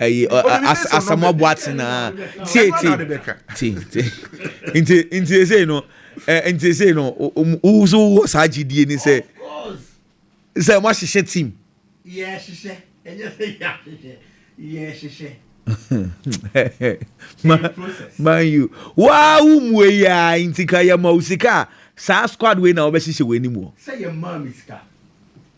ɛyi asamoah boatena tieti ti ti nti nti esei no ɛ nti esei no wo so wɔ saa gyidie ni sɛ sɛ mo ahyehyɛ team. yɛ hyehyɛ ɛnyɛ sɛ yɛ ahyehyɛ yɛ hyehyɛ. man u waa wo mu eyi a nti ka yɛ ma wo sika a saa squad wei na wɔbɛhyehyɛ wɔ anim wɔ. sɛ yɛ maa mi sika.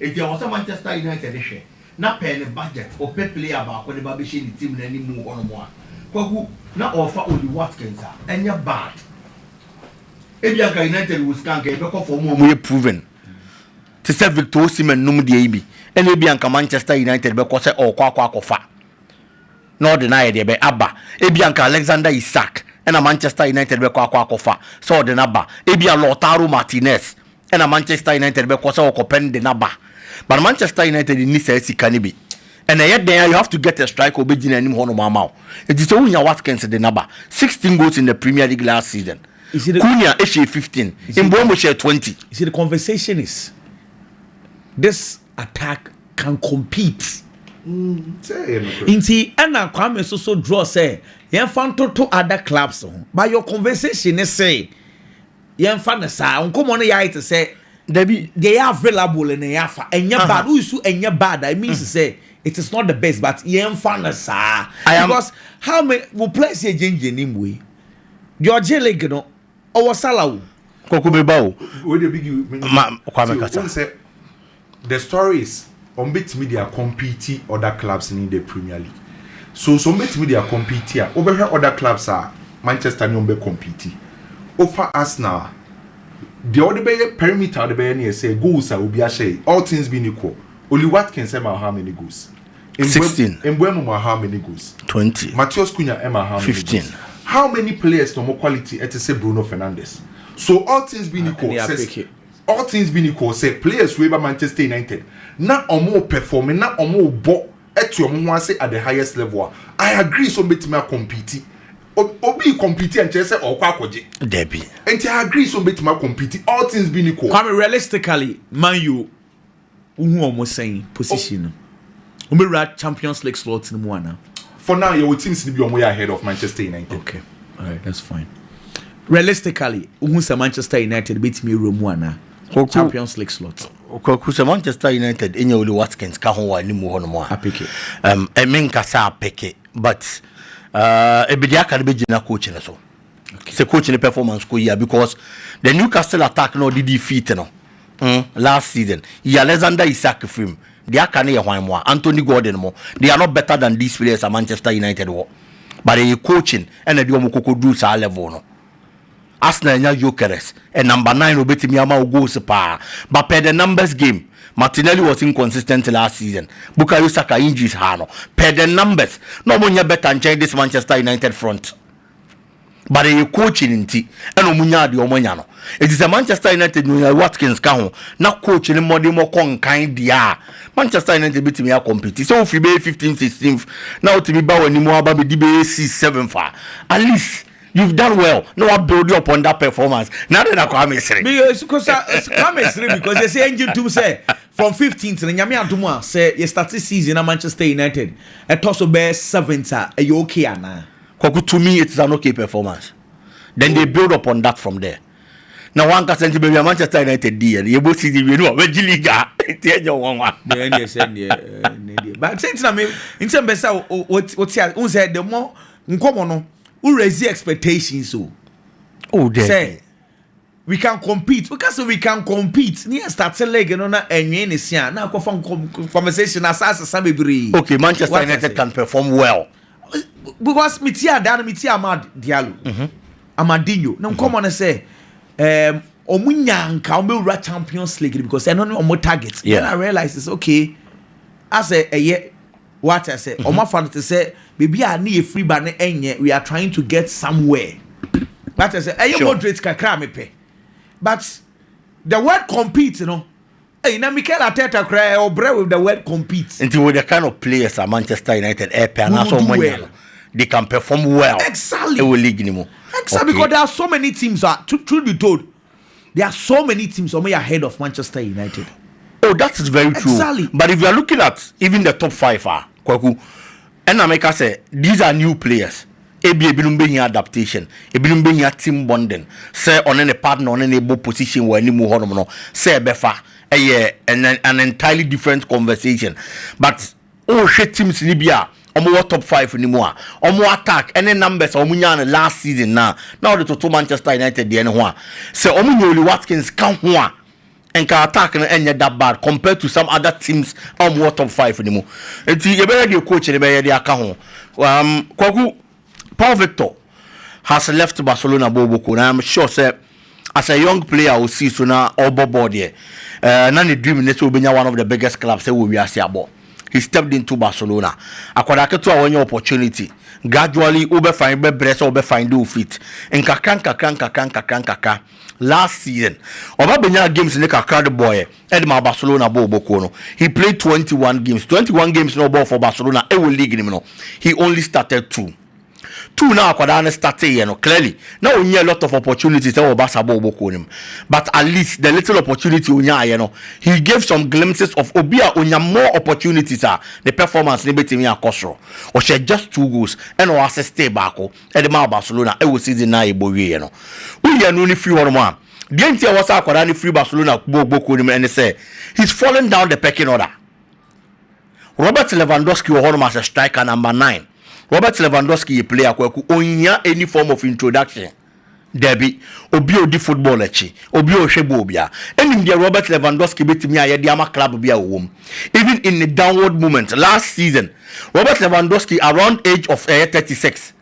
Enti ɛwɔ sɛ Manchester United hwɛ na per ne budget ɔpɛ player baako de ba bɛhyɛ ne team no animu hɔnom a. Kwaku, na ɔrefa Ollie Watkins a, ɛnyɛ bad. Ebia anka United wɔ sika a, anka yɛbɛkɔ for wɔn a wɔyɛ proven te sɛ Victor Osimhen nom deɛ yi bi, ɛna ebia anka Manchester United bɛkɔ sɛ ɔrekɔ akɔ akɔfa na ɔde no ayɛ deɛ bɛ aba. Ebia anka Alexander Isak ɛna Manchester United bɛkɔ akɔ akɔfa sɛ ɔde no aba. Ebia Lautaro Martinez ɛna Manchester United bɛkɔ sɛ ɔkɔpɛn de n'aba but Manchester United nni saa sika no bi ɛna ɛyɛ dɛn a you have to get a striker ɔbɛgyina anim hɔnom ama wo nti sɛ wonya Watkins de n'aba 16 goals in the Premier League last season Cunha ɛhyɛ 15 Mbeumo hyɛ 20 You see the conversation is this attack can compete mm, nti ɛna Kwame Soso draw sɛ yɛmfa ntoto other clubs ho but your conversation ne sɛ Yɛnfa no saa. Nkɔmmɔ no yɛ ayɛ te sɛ. Dabi. Deɛ yɛ available na yɛ afa. Ɛnyɛ bad. Woyi so ɛnyɛ bad a, it means mm. sɛ it is not the best but yɛnfa no saa. Because how many wo players yɛ gyengyen ne mu yi. Deɛ ɔgye league no, ɔwɔ sala o. Kɔkɔ bɛ ba o. Ma kwame kasa. The stories wɔn bɛtumi de akɔmpiiti other clubs ne the premier league so so wɔn bɛtumi de akɔmpiiti a wobɛhwɛ other clubs a Manchester ne wɔn bɛ kɔmpiiti wofa Arsenal a deɛ wɔde bɛyɛ perimeter a wɔde bɛyɛ ne yɛ sɛ goals a obi ahyɛ all things being equal Oli Watkins ɛma how many goals Mbeumo ma how many goals twenty Mateus Cunha ɛma how many goals how many players na wɔn quality ɛte sɛ Bruno Fernandes so all things being equal sɛ All things being equal sɛ players wei ba Manchester United na wɔn pɛfɔme na wɔn bɔ te wɔn ho ase at the highest level a, I agree sɛ wɔn bɛtumi a compete. Obi re compete a nkyerɛ sɛ ɔrekɔ akɔgye. Dabi. Nti I agree sɛ wɔn bɛtumi a compete all things being equal. Kwame, realistically, Man U Wohu wɔn sɛn position no? Wɔbɛwura Champions League slot no mu anaa? For now, yɛwɔ teams no bi a wɔyɛ ahead of Manchester United. Okay, alright, that's fine. Realistically, wohu sɛ Manchester United bɛtumi awura mu anaa? Kwaku, Champions League slot. Kwaku sɛ Manchester United ɛnyɛ Oli Watkins ka ho wɔ anim hɔ nom a. Apeke. Um, ɛmenkasa apeke, but uh, ebedi aka no bɛgyina coach no so. sɛ coach ne performance kɔ yia because the Newcastle attack na ɔde di feet no mm, last season yi Alexander Isak firim deɛ aka no yɛ hwan mo a Anthony Gordon mo they are not better than these players a Manchester United wɔ but ɛyɛ coaching ɛna de wɔn kɔkɔ duru saa level no Arsenal nya Gyökeres ɛ number nine obetumi ama wo goals paa but per the numbers game Martinelli was inconsistent last season Bukayo Saka injuries ha no per the numbers na wɔn nyɛ better nkyɛn this Manchester United front. but ɛyɛ coaching nti ɛna wɔn nyaa deɛ wɔn anya no eti sɛ Manchester United na onya Watkins ka ho na coach ne mmɔden mu kɔ nkan deɛ a Manchester United betumi akɔmpiti sɛ ofiri bɛyɛ fifteen sixteen na otumi ba wɔn anim aba bɛdi bɛyɛ six seven fa at least you've done well na wa build upon that performance na de na Kwame Sere. mi eh, kosa eh, Kwame Sere because yɛ sɛ yɛn gye ntum sɛ from fifteenth na nyame adum a sɛ yɛ start season na Manchester United ɛtɔ so bɛyɛ seventh a ɛyɛ okay anaa. Kwaku tumi it's an okay performance then they build upon that from there na wɔn ankasa nti baabi a Manchester United di yɛ no yɛbɔ season wie no a wɔbɛgye league a nti ɛnyɛ wɔn nwa. deɛ ɛneɛ sɛ neɛ ne deɛ ba sɛ ntina me nsɛm bɛ sɛ wote a wohu sɛ the more nkɔmmɔ no wo raise expectations o oh, sɛ We can compete woka sɛ we can compete ne yɛ starte league no na ɛnwee ne se a na akɔfa compensation na saa sesa bebree. Okay Manchester United can perform well. Because me tie adaa no me tie Amad Diallo. Mm -hmm. Amadinho ne nkɔmɔ no sɛ um, ɔmo nya nka ɔmo bɛwura champions league because ɛno ne ɔmo target yeah. then i realize is okay asɛ ɛyɛ Wate ase? Wɔn afa no te sɛ baabi a ne yɛ firi ba no ɛnyɛ we are trying to get somewhere. Wate ase? Ɛyɛ moderate kakra a mepɛ but the word compete no. Hey, na Mikel Arteta koraa eh, ɔbrɛ with the word compete. Nti with the kind of players a Manchester United ɛpɛ anaasɛ ɔmo anya no, they can perform well. Exactly. Ɛwɔ league ni mu. Exactly okay. because there are so many teams a truth be told. there are so many teams ɔmo yɛ ahead of Manchester United. Oh that is very true exactly. but if you are looking at even the top five ah kwaku ɛna meka sɛ these are new players ebi ebinom bɛ hia adaptation ebinom bɛ hia team bonding sɛ ɔne ne partner ɔne ne bɔ position wɔ anim hɔnom no sɛ ɛbɛfa ɛyɛ an entirely different conversation but. Wohwɛ teams no bi a wɔwɔ top five no mu a, wɔn attack ne numbers a wɔnyaa no last season no a, na wɔde toto Manchester United deɛ no ho a, sɛ wɔnya Ollie Watkins ka ho a, nka attack no nyɛ that bad compared to some other teams a wɔwɔ top five no mu. Nti yɛbɛhwɛ deɛ coach no bɛyɛ de aka ho. Kwaku, Paul Victor has left Barcelona bɔɔlbɔkuo no, I am sure sɛ as a young player a ɔsii so na ɔrebɔ bɔɔl deɛ, eh, na ne dream ne sɛ ɔbɛnya one of the biggest clubs ɛwɔ wiase abɔ. He stepped into Barcelona. Akwadaa ketewa a wanya opportunity, gradually wobɛfa bɛbrɛ sɛ wobɛfind wo feet. Nkakra nkakra nkakra nkakra nkakra. Last season, ɔba benyaa games no kakra de bɔɔɛ de maa Barcelona bɔɔ ɔbɔkuo no. He played twenty one games. Twenty one games no a ɔbɔɔ for Barcelona wɔ league no mu no, he only started two. Two no a akwadaa no starteeɛ no, clearly, na ɔnnya a lot of opportunities wɔ Barca bɔɔ ɔbɔkuo no mu. But at least, the little opportunity a ɔnyaaeɛ no, he gave some glimpses of obi a ɔnya more opportunities a, ne performance no bɛtumi akɔ soro. Ɔhyɛɛ just two goals, ɛna ɔassistee baako. de maa Barcelona wɔ season no a yɛbɔ wieeɛ no. Woyi ɛno no firi hɔnom a, deɛ nti a ɛwɔ sɛ akwadaa no firi Barcelona bɔ bɔ kuo no mu ne sɛ he's falling down the pecking order. Robert Lewandowski wɔ hɔnom as a striker number nine. Robert Lewandowski yɛ player kwaku, ɔnhia any form of introduction. Dabi, obi a odi football akyi, obi a ɔhwɛ bɔɔl biara, nim deɛ Robert Lewandowski bɛtumi ayɛ de ama club bi a ɔwɔ mu. Even in ne downward moment last season, Robert Lewandowski around age of ɛyɛ thirty six,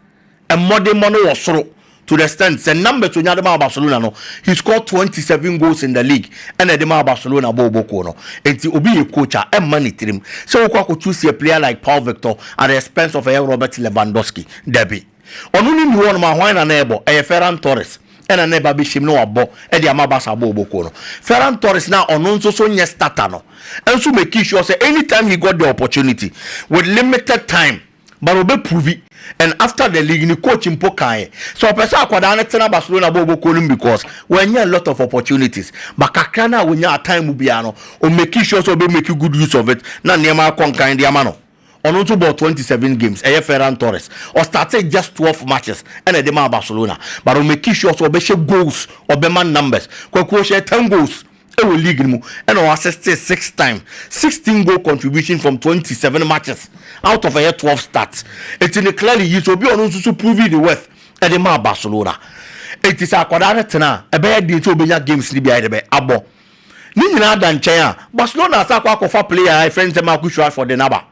mmɔdemmɔ no wɔ soro to the extent sɛ numbers onya de maa Barcelona no, he scored twenty seven goals in the league ɛna ɛde maa Barcelona bɔɔ bɔ kuo no. Nti obi yɛ coach a, ɛmma ne tirim sɛ wokɔ akɔ choose a player like Paul Victor at the expense of ɛyɛ Robert Lewandowski. Dabi. Ɔno no nni hɔnom a, hwan na na ɛrebɔ? Ɛyɛ Ferran Torres na na ɛba abɛhyem na wabɔ de ama Barca abɔ ɔbɔ kuo no. Ferran Torres no a ɔno nso so nyɛ starter no nso makii sure sɛ anytime he got the opportunity with limited time but ɔbɛ provi and after the league ne coach mpo kaeɛ sɛ ɔpɛ sɛ akwadaa no tena Barcelona bɔ ɔbɔ kuo no mu because wanya a lot of opportunities but kakra no a ɔnyaa time mu biara no ɔmakii sure sɛ ɔbɛ make good use of it na nneɛma akɔ nkan de ama no. Ɔno nso bɔɔ twenty seven games, ɛyɛ Ferran Torres. Ɔstartee just twelve matches ɛna ɛde maa Barcelona but ɔmakii sure sɛ ɔbɛhyɛ goals, ɔbɛma numbers. Kwaku, ɔhyɛɛ ten goals wɔ league no mu ɛna ɔassistee six times. Sixteen goal contribution from twenty seven matches out of ɛyɛ twelve starts. Enti no clearly he is obi a ɔno nso so provee ne worth ɛde maa Barcelona. Enti sɛ akwadaa no tena a, ɛbɛyɛ den sɛ ɔbɛnya games no bi ayɛdɛ bɛ abɔ. Ne nyinaa da nkyɛn a, Barcelona asan akɔ akɔfa player a yɛfrɛ no sɛ Marcus Rashford de no aba.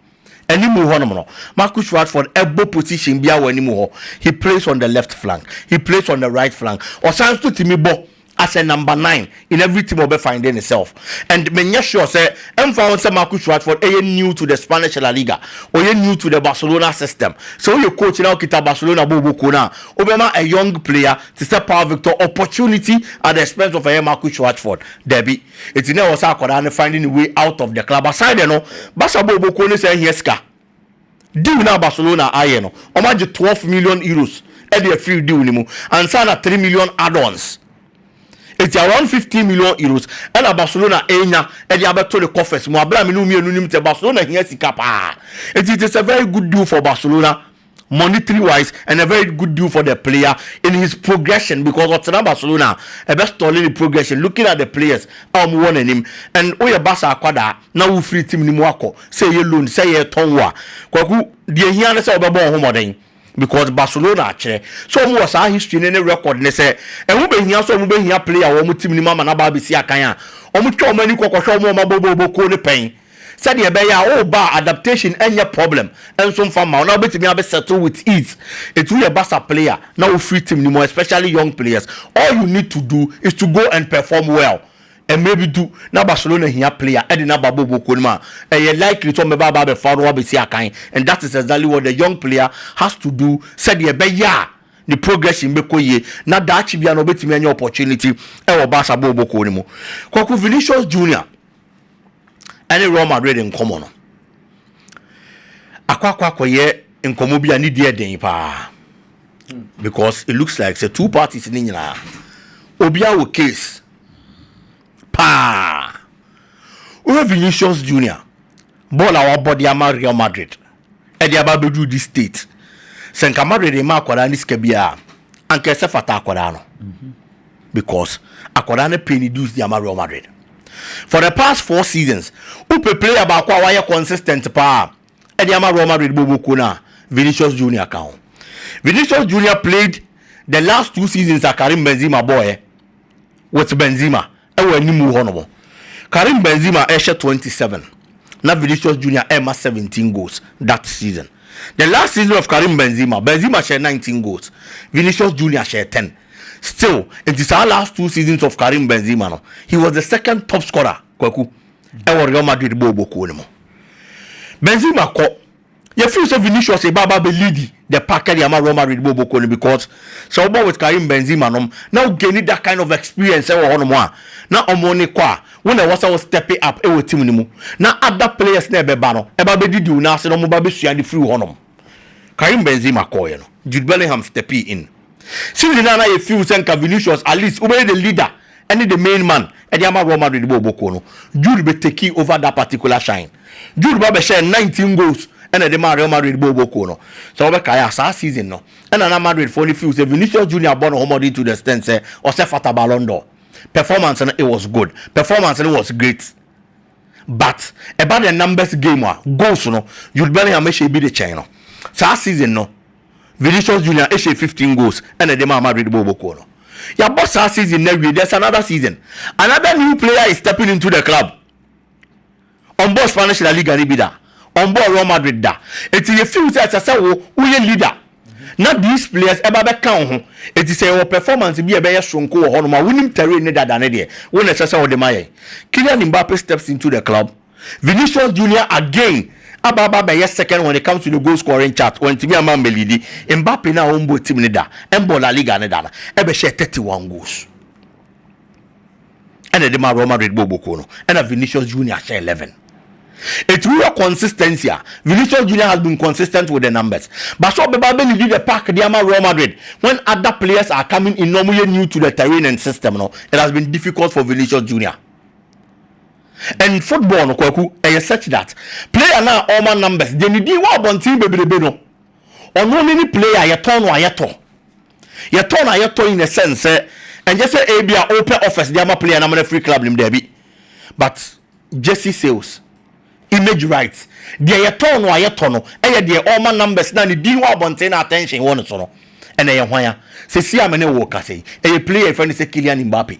Anim hɔnom no, Marcus Rashford bɔ position biara wɔ anim hɔ. He plays on the left flank, he plays on the right flank, ɔsan nso tumi bɔ as a number nine in every team a ɔbɛ find ne self. And menyɛ sure sɛ ɛmfa ho sɛ Marcus Rashford yɛ new to the Spanish La Liga, ɔyɛ new to the Barcelona system. Sɛ woyɛ coach na wokita Barcelona bɔɔlbɔ kuo no a, wobɛma a young player te sɛ Paul Victor, opportunity at the expense of ɛyɛ Marcus Rashford. Dabi. Enti na ɛwɔ sɛ akwadaa no finding a way out of the club. Aside no, Barca bɔ ɔbɔkuo no san hia sika. Deal no a Barcelona ayɛ no, wɔagye 12 million euros de afiri deal no mu ansa na 3 million add-ons. Enti around 15 million euros ɛna Barcelona anya de abɛto ne coffers mu. Abere a me ne wo mmienu nim sɛ Barcelona hia sika paa. Enti it is a very good deal for Barcelona. monetary wise and a very good deal for the player in his progression because ɔtena Barcelona a ɛbɛ stɔle ne progression looking at the players a wɔn wɔ n'anim and woyɛ Barca akwadaa na wofiri team no mu akɔ sɛ ɛyɛ loan sɛ yɛretɔn wo a kwaku deɛ hia ne sɛ wɔbɛbɔ wɔn ho mmɔden because Barcelona akyerɛ sɛ wɔn wɔ saa history ne ne record ne sɛ ɛho bɛhia sɛ wɔn bɛhia player wɔn team no mu ama no aba abɛsi akan a wɔn twa wɔn ani kɔkɔhwɛ wɔn a wɔn abɔ bɔɔl bɔkuo no pɛn Sɛdeɛ ɛbɛyɛ a wo ba a adaptation nyɛ problem nso mfa mma wo na wobɛtumi abɛ settle with ease. Ɛtumi yɛ Barca player na wofiri team no mu especially young players. All you need to do is to go and perform well. Mmerɛ bi du na Barcelona hia player de no aba bɔ bokuo no mu a, ɛyɛ likely sɛ wɔbɛba aba abɛfa wo na woabɛsi akan and that is exactly what the young player has to do sɛdeɛ ɛbɛyɛ a ne progression bɛkɔ yie na daakye biara no ɔbɛtumi anya opportunity wɔ Barca bɔ bokuo no mu. Kwaku Vinicius Junior. ne Real Madrid nkɔmmɔ no, akɔ akɔ akɔyɛ nkɔmmɔ bi a ne di yɛ den paa because it looks like sɛ two parties ne nyinaa obiara wɔ case paa wohwɛ Vinicius Junior bɔɔl a wabɔ de ama Real Madrid ɛde aba abɛduru this state sɛ nka madwene de ma akwadaa no sika bi a anka ɛsɛ fata akwadaa no because akwadaa no pay ne dues de ama real madrid for the past four seasons wopɛ player baako a wayɛ consistent paa ɛde ama real madrid bɔbɔ kuo no a vinicius junior ka ho vinicius junior played the last two seasons a karim benzema bɔɔɛ with benzema Wɔ anim hɔ nom, Karim Benzema rehyɛ twenty seven na Vinicius Junior rema seventeen goals that season. The last season of Karim Benzema, Benzema hyɛɛ nineteen goals, Vinicius Junior hyɛɛ ten. Still, nti saa last two seasons of Karim Benzema no, he was the second top scorer, Kwaku, wɔ Real Madrid bɔɔlbɔ kuo no mu. Benzema kɔ. Yefeel sɛ Vinicius reba aba abɛ lead the pack de ama Real Madrid bɔ bɔkɔ no because sɛ wobɔ with Karim Benzema nom na wo gaini that kind of experience wɔ hɔnom a na wɔn ne kɔ a wo na ɛwɔ sɛ wo step up wɔ team no mu na other players no a ɛbɛba no ɛba abɛdidi wo nan ase na wɔn ba abɛsua ade firi wo hɔnom. Karim Benzema kɔeɛ no Jude Bellingham stepee in. Season no a na yɛ feel sɛ nka Vinicius at least wobɛyɛ the leader ɛne the main man ɛde ama Real Madrid bɔ ɔbɔ kuo no, Jude bɛ takee over that particular shine. Jude ba bɛhyɛɛ nineteen goals ɛna ɛde maa Real Madrid bɔ ɔbɔ kuo no. Sɛ wobɛkae a saa season no ɛna na Madrid foɔ no feel sɛ Vinicius Junior abɔ ne ho mmɔden to the extent sɛ ɔsɛ fata Ballon d'Or. Performance no it was good. Performance no was great. but ɛba dɛ numbers game a goals no Jude Bellingham ehyɛ bi de kyɛn no. Saa season no Vinicius Junior ehyɛɛ fifteen goals na de maa Madrid bɔɔlbɔ kuo no. Yɛabɔ saa season no awie, there's another season, another new player is stepping into the club. Ɔmbɔɔ Spanish La Liga no bi da, ɔmbɔɔ Real Madrid da, ntsi yɛfeel sɛ ɛsɛ sɛ wo woyɛ leader. na these players ɛba bɛka wo ho enti sɛ yɛwɔ performance bi a ɛbɛyɛ soronko wɔ hɔnom a wonim terrain ne dada no deɛ wo na ɛsɛ sɛ wode ma yɛn Kylian Mbappe steps into the club Vinicius Junior again aba aba abɛyɛ second when it comes to the goal scoring chart wantumi ama ammɛlidi Mbappe no a ɔmbɔ team no da ɛmbɔ La Liga no da no ɛbɛhyɛɛ 31 goals ɛna ɛde maa Real Madrid bɔɔ bɔkuo no ɛna Vinicius Junior hyɛ 11 Eti wohwɛ consistency a Vinicius Junior has been consistent with the numbers but sɛ ɔbɛba bɛ lead the pack de ama Real Madrid when other players are coming in na wɔyɛ new to the terrain and system no it has been difficult for Vinicius Junior and football no kwaku ɛyɛ such that player no a ɔma numbers deɛ ne din wɔ abɔnten bebrebe no ɔno ne ne player yɛtɔn no a yɛtɔ Yɛtɔn a yɛtɔn yi na ɛsɛn sɛ ɛnyɛ sɛ ebia wopɛ offers de ama player no ama no afiri club no mu, dabi, but jersey sales, image rights, deɛ yɛtɔn no a yɛtɔ no yɛ deɛ ɔrema numbers no a ne din wɔ abɔnten na attention wɔ ne so no, ɛna ɛyɛ hwan a? Seesei a me ne wo rekasa yi, ɛyɛ player a yɛfrɛ no sɛ Kylian Mbappe.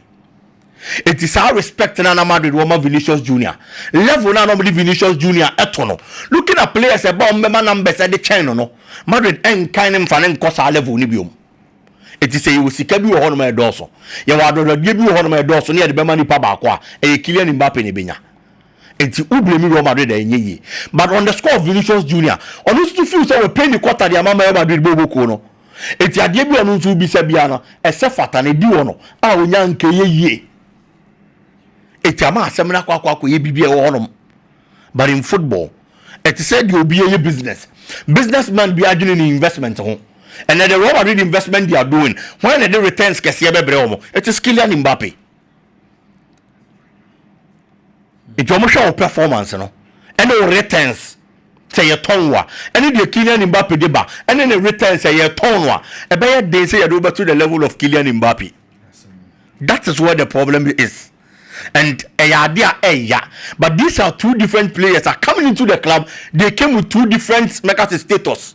Enti saa respect no a na Madrid wɔ ma Vinicius Junior, level no a na wɔde Vinicius Junior to no, looking at players a ɛba a wɔbɛma numbers de kyɛn no no, Madrid nkan no mfa no nkɔ saa level no biom. Enti sɛ yɛwɔ sika bi wɔ hɔnom a ɛdɔɔso, yɛwɔ adɔdɔdeɛ bi wɔ hɔnom a ɛdɔɔso na yɛde bɛma nipa baako a, ɛyɛ Kylian Mbappe na ɛbɛnya. Enti wo blame Real Madrid a ɛnyɛ yie. But on the score of Vinicius Junior, ɔno nso feel sɛ wɔapay ne quarter de ama Real Madrid bɔ wɔbɔ kuo no. Enti adeɛ bi a ɔno nso wobisa biara no, ɛsɛ fata na ɛdi hɔ no a ɔnya nkɛyɛ yie. Enti ama asɛm no akɔ akɔ akɔyɛ biribi a ɛwɔ hɔnom. But in football, ɛte sɛ deɛ obi yɛ business. Businessman bi adwene ne investment ho. Ɛnɛ the Real Madrid investment they are doing, hwan na ɛde returns kɛseɛ bɛbrɛ wɔn? It is Kylian Mbappe. Nti wɔhwɛ wo performance no ne wo returns sɛ yɛtɔn wo a, ɛne deɛ Kylian Mbappe de ba ne ne returns sɛ yɛtɔn no a, ɛbɛyɛ den sɛ yɛde wo bɛto the level of Kylian Mbappe. That is where the problem is and ɛyɛ ade a ɛya but these are two different players are coming into the club they came with two different mɛka sɛ status.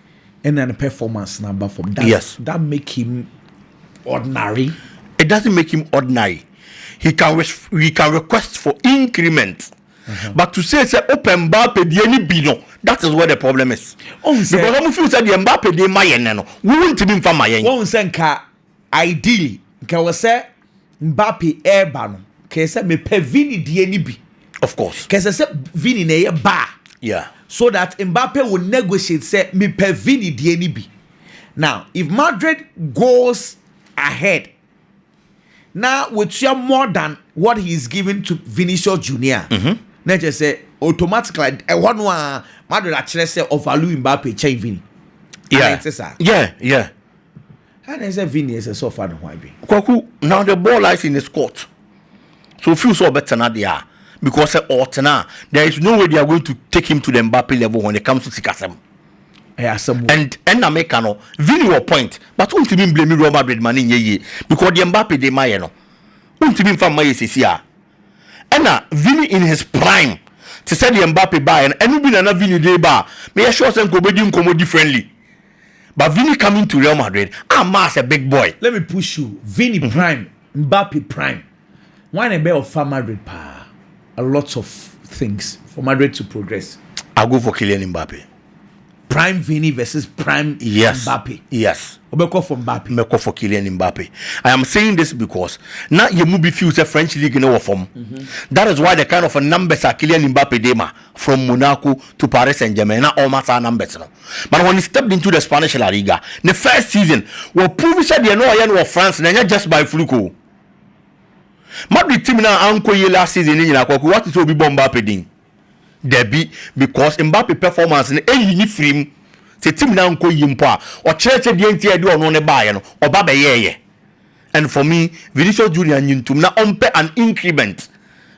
Ɛna ne performance na ba fam. Does yes. that make him ordinary? It doesn't make him ordinary. He can he can request for increment. Uh-huh. But to say say open bar pedie ni bi no that is where the problem is. Oh, because ɔmo feel sɛ deɛ mba pedie ma yɛn no wo ntumi nfa ma yɛn. Wɔn nsɛ nka Ideally nka wɔ sɛ Mbappe ɛreba no kɛyɛ sɛ mepɛ Vini deɛ no bi. Of course. Kɛsɛ sɛ Vini na ɛyɛ baa. Yeah. So that Mbappe will negotiate sɛ mepɛ Vini deɛ no bi. Now if Madrid goes ahead na wɔtua more than what he is giving to Vinicius Junior. Mm -hmm. Na kyerɛ sɛ automatically ɛhɔ no a Madrid akyerɛ sɛ ɔvalue Mbappe kyɛn Vini. Yeah. Yeah, yeah. Hena na ɛsɛ sɛ Vinny ɛsɛ sɛ ɔfa ne ho adwene? Kwaku, now the ball lies in his court. Sɛ ɔfeel sɛ ɔbɛtena deɛ a, because sɛ ɔretena a, there is no way they are going to take him to the Mbappe level when it comes to sikasɛm. Ɛyɛ asɛm o. And ɛna meka no, Vinny wɔ point, but wontumi mblame Real Madrid ma no nyɛ yie, because deɛ Mbappe de ma yɛ no, wontumi mfa mma yɛ seesei a. Ɛna Vinny in his prime, te sɛ deɛ Mbappe baeɛ no, ɛno bi na na Vinny de ba a, meyɛ sure sɛ nka wɔbɛdi nkɔmmɔ differently. But Vini coming to Real Madrid amma as a big boy. Let me push you, Vini prime, Mbappe prime, hwan na ɛbɛyɛ ɔfa Madrid paa? A lot of things for Madrid to progress. I'll go for Kylian Mbappe. Prime Vini versus Prime yes. Mbappe. Yes. Obeko for Mbappe. Meko for Kylian Mbappe. I am saying this because now you be few say French league no form. Mm-hmm. That is why the kind of numbers are Kylian Mbappe dema. from Monaco to Paris Saint-Germain na ɔma saa numbers no. But when he stepped into the Spanish La Liga, ne first season, waprove sɛ deɛ na ɔyɛ no wɔ France no ɛnyɛ just by fluke o. Madrid team no a ankɔ yie last season no nyinaa kwaku wate sɛ obi bɔ Mbappe din? Dabi, because Mbappe performance no ɛyi ne firi mu. Sɛ team no ankɔ yie mpo a, ɔkyerɛɛ sɛ deɛ nti a ɛde ɔno ne baeɛ no, ɔba bɛyɛɛyɛ. And for me, Vinicius Junior nnye ntom na ɔmpɛ an increment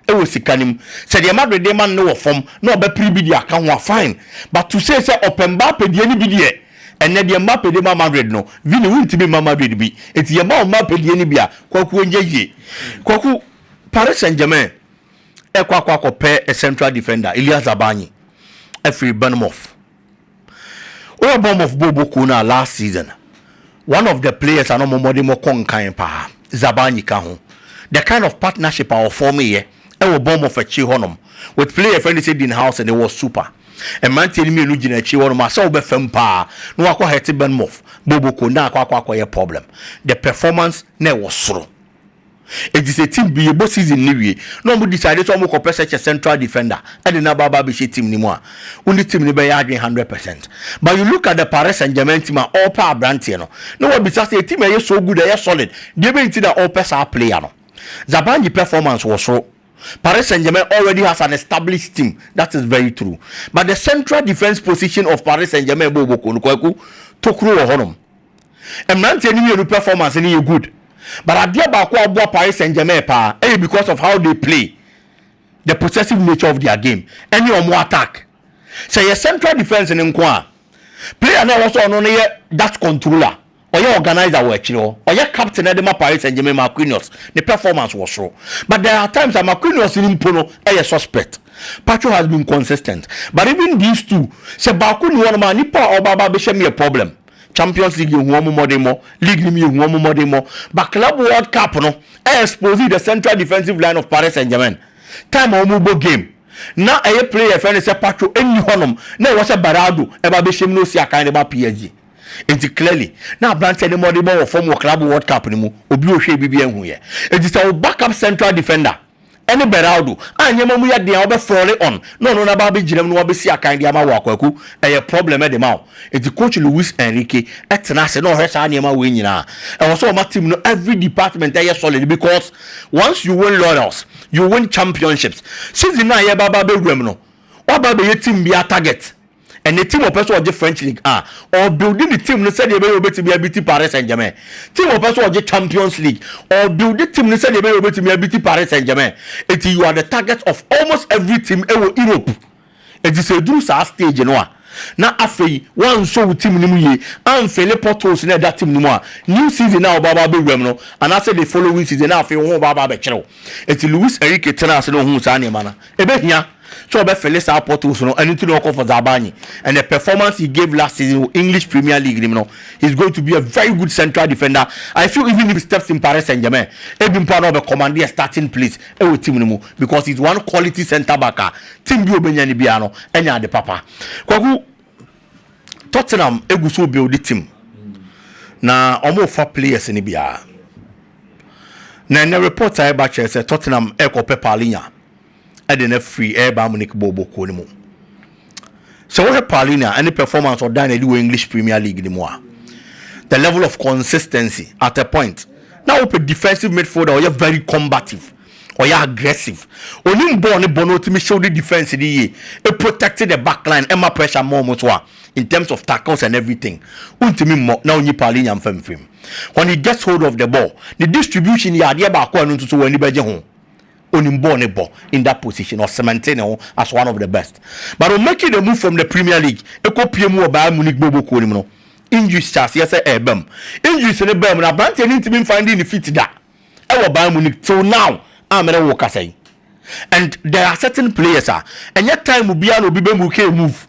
wɔ sika no mu. Sɛ deɛ Madrid de rema no no wɔ fam na ɔbɛpere bi de aka ho a, fine. But to say sɛ ɔpɛ Mbappe deɛ no bi deɛ, ɛnnɛ deɛ Mbappe de ma Madrid no, Vini wontumi mma Madrid bi. Enti yɛma wo Mbappe deɛ no bi a, Kwaku ɔnyɛ yie. Kwaku, Paris Saint Germain rekɔ akɔ akɔpɛ central defender, Illia Zabarnyi, afiri Bournemouth. Woyɛ Bournemouth bɔɔlbɔ kuo no a last season one of the players a na ɔmo mmɔden bɔ kɔ nkan paa Zabarnyi ka ho. The kind of partnership a ɔfɔɔmeeɛ ɛwɔ Bournemouth akyire hɔ nom with player yɛfrɛ no sɛ Dean Howson it was super. Mmranteɛ no mmienu gyina akyire hɔ nom a sɛ wobɛfa mu paa na wakɔ hurt Bournemouth bɔɔlbɔ kuo no na akɔ akɔ akɔyɛ problem. The performance na ɛwɔ soro. Efisɛ team bi rebɔ season no wie na wɔn decide sɛ wɔn kɔ pɛ such a central defender ɛde no aba aba abɛhyɛ team no mu a, wo ne team no bɛyɛ adwene hundred percent. But you look at the Paris Saint Germain team a ɔrepɛ abranteɛ no na wabisa sɛ team a ɛyɛ so good, ɛyɛ solid, deɛ bɛn nti na ɔrepɛ saa player no? Zabarnyi performance wɔ soro. Paris Saint Germain already has an established team, that is very true. But the central defence position of Paris Saint Germain bɔ ɔbɔkuo no, Kwaku, tokuro wɔ hɔnom. Mmeranteɛ no mmienu performance no yɛ good but adeɛ baako a ɔboa Paris Saint-Germain paa yɛ because of how they play, the possessive nature of their game ɛne wɔn attack. Sɛ yɛ central defence no nko a, player no a ɛwɔ sɛ ɔno no yɛ that controller, ɔyɛ organiser wɔ akyire hɔ, ɔyɛ captain de ma Paris Saint-Germain, Marquinhos, ne performance wɔ soro but there are times a Marquinhos no mpo no yɛ suspect. Pacho has been consistent but even these two sɛ baako nni hɔnom a nipa a ɔba aba abɛhyɛ mu yɛ problem. Champions League yɛ hu wɔn mmɔdenmɔ, league no mu yɛ hu wɔn mmɔdenmɔ, but Club World Cup no ɛ expose the central defensive line of Paris Saint Germain, time a wɔn bɔ game na ɛyɛ player yɛfrɛ no sɛ Pacho nni hɔ nom na ɛwɔ sɛ Beraldo ɛba bɛhyɛ mu na osi akan de ba PSG, nti clearly na abranteɛ no mmɔdenmɔ wɔ fam wɔ Club World Cup no mu, obi ohwɛ bibi anhu yɛ, nti sɛ wo backup central defender. ne Beraldo a nneɛma mu yɛ den a wobɛ fɔre on na ɔno na aba abɛgyinam na wabɛsi akan de ama wo a Kwaku ɛyɛ problem de ma wo. Nti coach Luis Enrique tena ase na ɔhwɛ saa nneɛma wei nyinaa. Ɛwɔ sɛ ɔma team no every department ɛyɛ solid because once you win laurels, you win championships. Season no a yɛreba aba abɛwura mu no, woaba abɛyɛ team biara target. Ɛnnɛ team a ɔpɛ sɛ ɔgye French league a, ɔrebuilde ne team no sɛdeɛ ɛbɛyɛ a ɔbɛtumi abiti Paris Saint-Germain. Team a ɔpɛ sɛ ɔgye Champions league, ɔrebuilde team no sɛdeɛ ɛbɛyɛ a ɔbɛtumi abiti Paris Saint-Germain. Enti you are the target of almost every team wɔ Europe. Enti sɛ ɛduru saa stage no a, na afei woansɔ wo team no mu yie, amfille potholes no a ɛda team no mu a, new season no a wobɛba abɛwura mu no, anaasɛ the following season, na afei wo ho reba aba abɛkyere wo. Enti Luis Enrique tenaa ase na ɔhuu saa nneɛma no a, ɛbɛhia. sɛ ɔbɛfele saa potholes no ɛno nti na ɔkɔ for Zabarnyi and the performance he gave last season wɔ English Premier League nim no he's going to be a very good central defender I feel even if he steps in Paris Saint-Germain ebi mpo a na ɔbɛ command a starting place ɛwɔ team no mu because he's one quality centre back a team bi ɔbɛnya no biara no ɛnya ade papa Kwaku Tottenham egu so build team na ɔmo fa players no biara na ɛnɛ report a ɛba kyerɛ sɛ Tottenham ɛkɔ pɛ Palhinha de no afiri ɛyɛ Bayern Munich bɔɔlbɔ kuo no mu. Sɛ wohwɛ Palhinha ne performance ɔdan no adi wɔ English Premier League no mu a, the level of consistency at a point na wopɛ defensive midfielder a ɔyɛ very combative ɔyɛ aggressive onim bɔɔl ne bɔ na ɔtumi hyew ne defense no yie e protect the back line ɛma pressure mmɔ wɔn so a in terms of tackles and everything wontumi mmɔ na wonyi Palhinha mfa mfirim when he gets hold of the ball ne distribution yɛ adeɛ baako a ɛno nso so wɔn ani bɛgye ho. onim bɔɔl no bɔ in that position, ɔ cementee ne ho as one of the best but ɔ making a move from the Premier League kɔ pue mu wɔ Bayern Munich bɔɔlbɔ kuo no mu no, injuries hyɛɛ aseɛ sɛ ɛɛba mu. Injuries no baa mu no, abranteɛ no ntumi nfinding ne feet da wɔ Bayern Munich till now a me ne wo rekasa yi and there are certain players a ɛnyɛ time biara na obi bɛ muke a move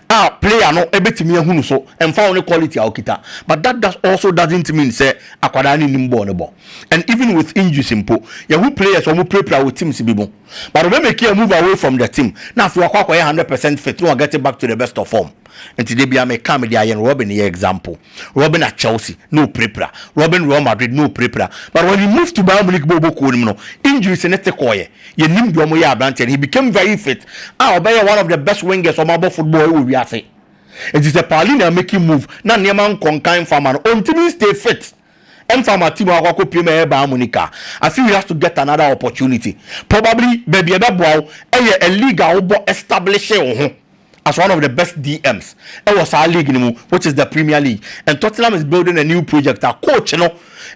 a player no bɛtumi ahunu so ɛmfa ho ne quality a ɔkita but that does also doesn't mean sɛ akwadaa no nnim bɔɔl no bɔ and even with injuries mpo yɛho players a wɔpirapira wɔ teams bi mu but ɔbɛ make a move away from the team na afei wakɔ akɔyɛ hundred percent fit na ɔget back to the best of form nti da bia meka mede ayɛ no Robin yɛ example Robin at Chelsea na ɔpirapira Robin Real Madrid na ɔpirapira but when he moved to Bayern Munich bɔ ɔbɔ kuo no mu no injuries ne te kɔɔyɛ Yɛnnim deɛ wɔyɛ aberanteɛ no, he became very fit a ɔbɛyɛɛ one of the best wingers a wɔabɔ football wɔ wiase. Enti sɛ Palhinha make move na nneɛma nkɔ nkan mfa ma no, ɔntumi nstay fit mfa ama team a wakɔ akɔpue mu ɛyɛ Bayern Munich a, I feel he has to get another opportunity. Probably baabi a ɛbɛboa wo yɛ a league a wobɔ establishe wo ho. as one of the best DMs wɔ saa league no mu which is the Premier League and Tottenham is building a new project a coach no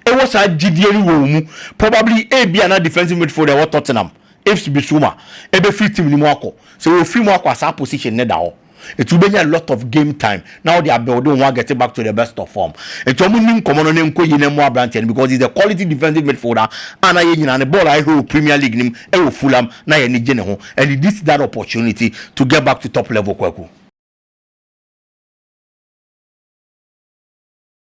wɔ saa gyidie no wɔ wɔn mu probably ebia na defensive midfielder ɛwɔ Tottenham Yves Bissouma ɛbɛfiri team no mu akɔ sɛ wɔfiri mu akɔ a saa position no da hɔ ɛti wobɛnya a lot of game time na ɔde abuild wɔn agɛte back to the best of form. Nti wɔn nni nkɔmɔ no na nkɔ yi na mmoa aberanteɛ no because he is a quality defensive midfielder a na yɛn nyinaa ne bɔɔl a yɛhwɛ wɔ Premier League no mu wɔ Fulham na yɛn ani gye ne ho and he dissed that opportunity to get back to top level Kwaku.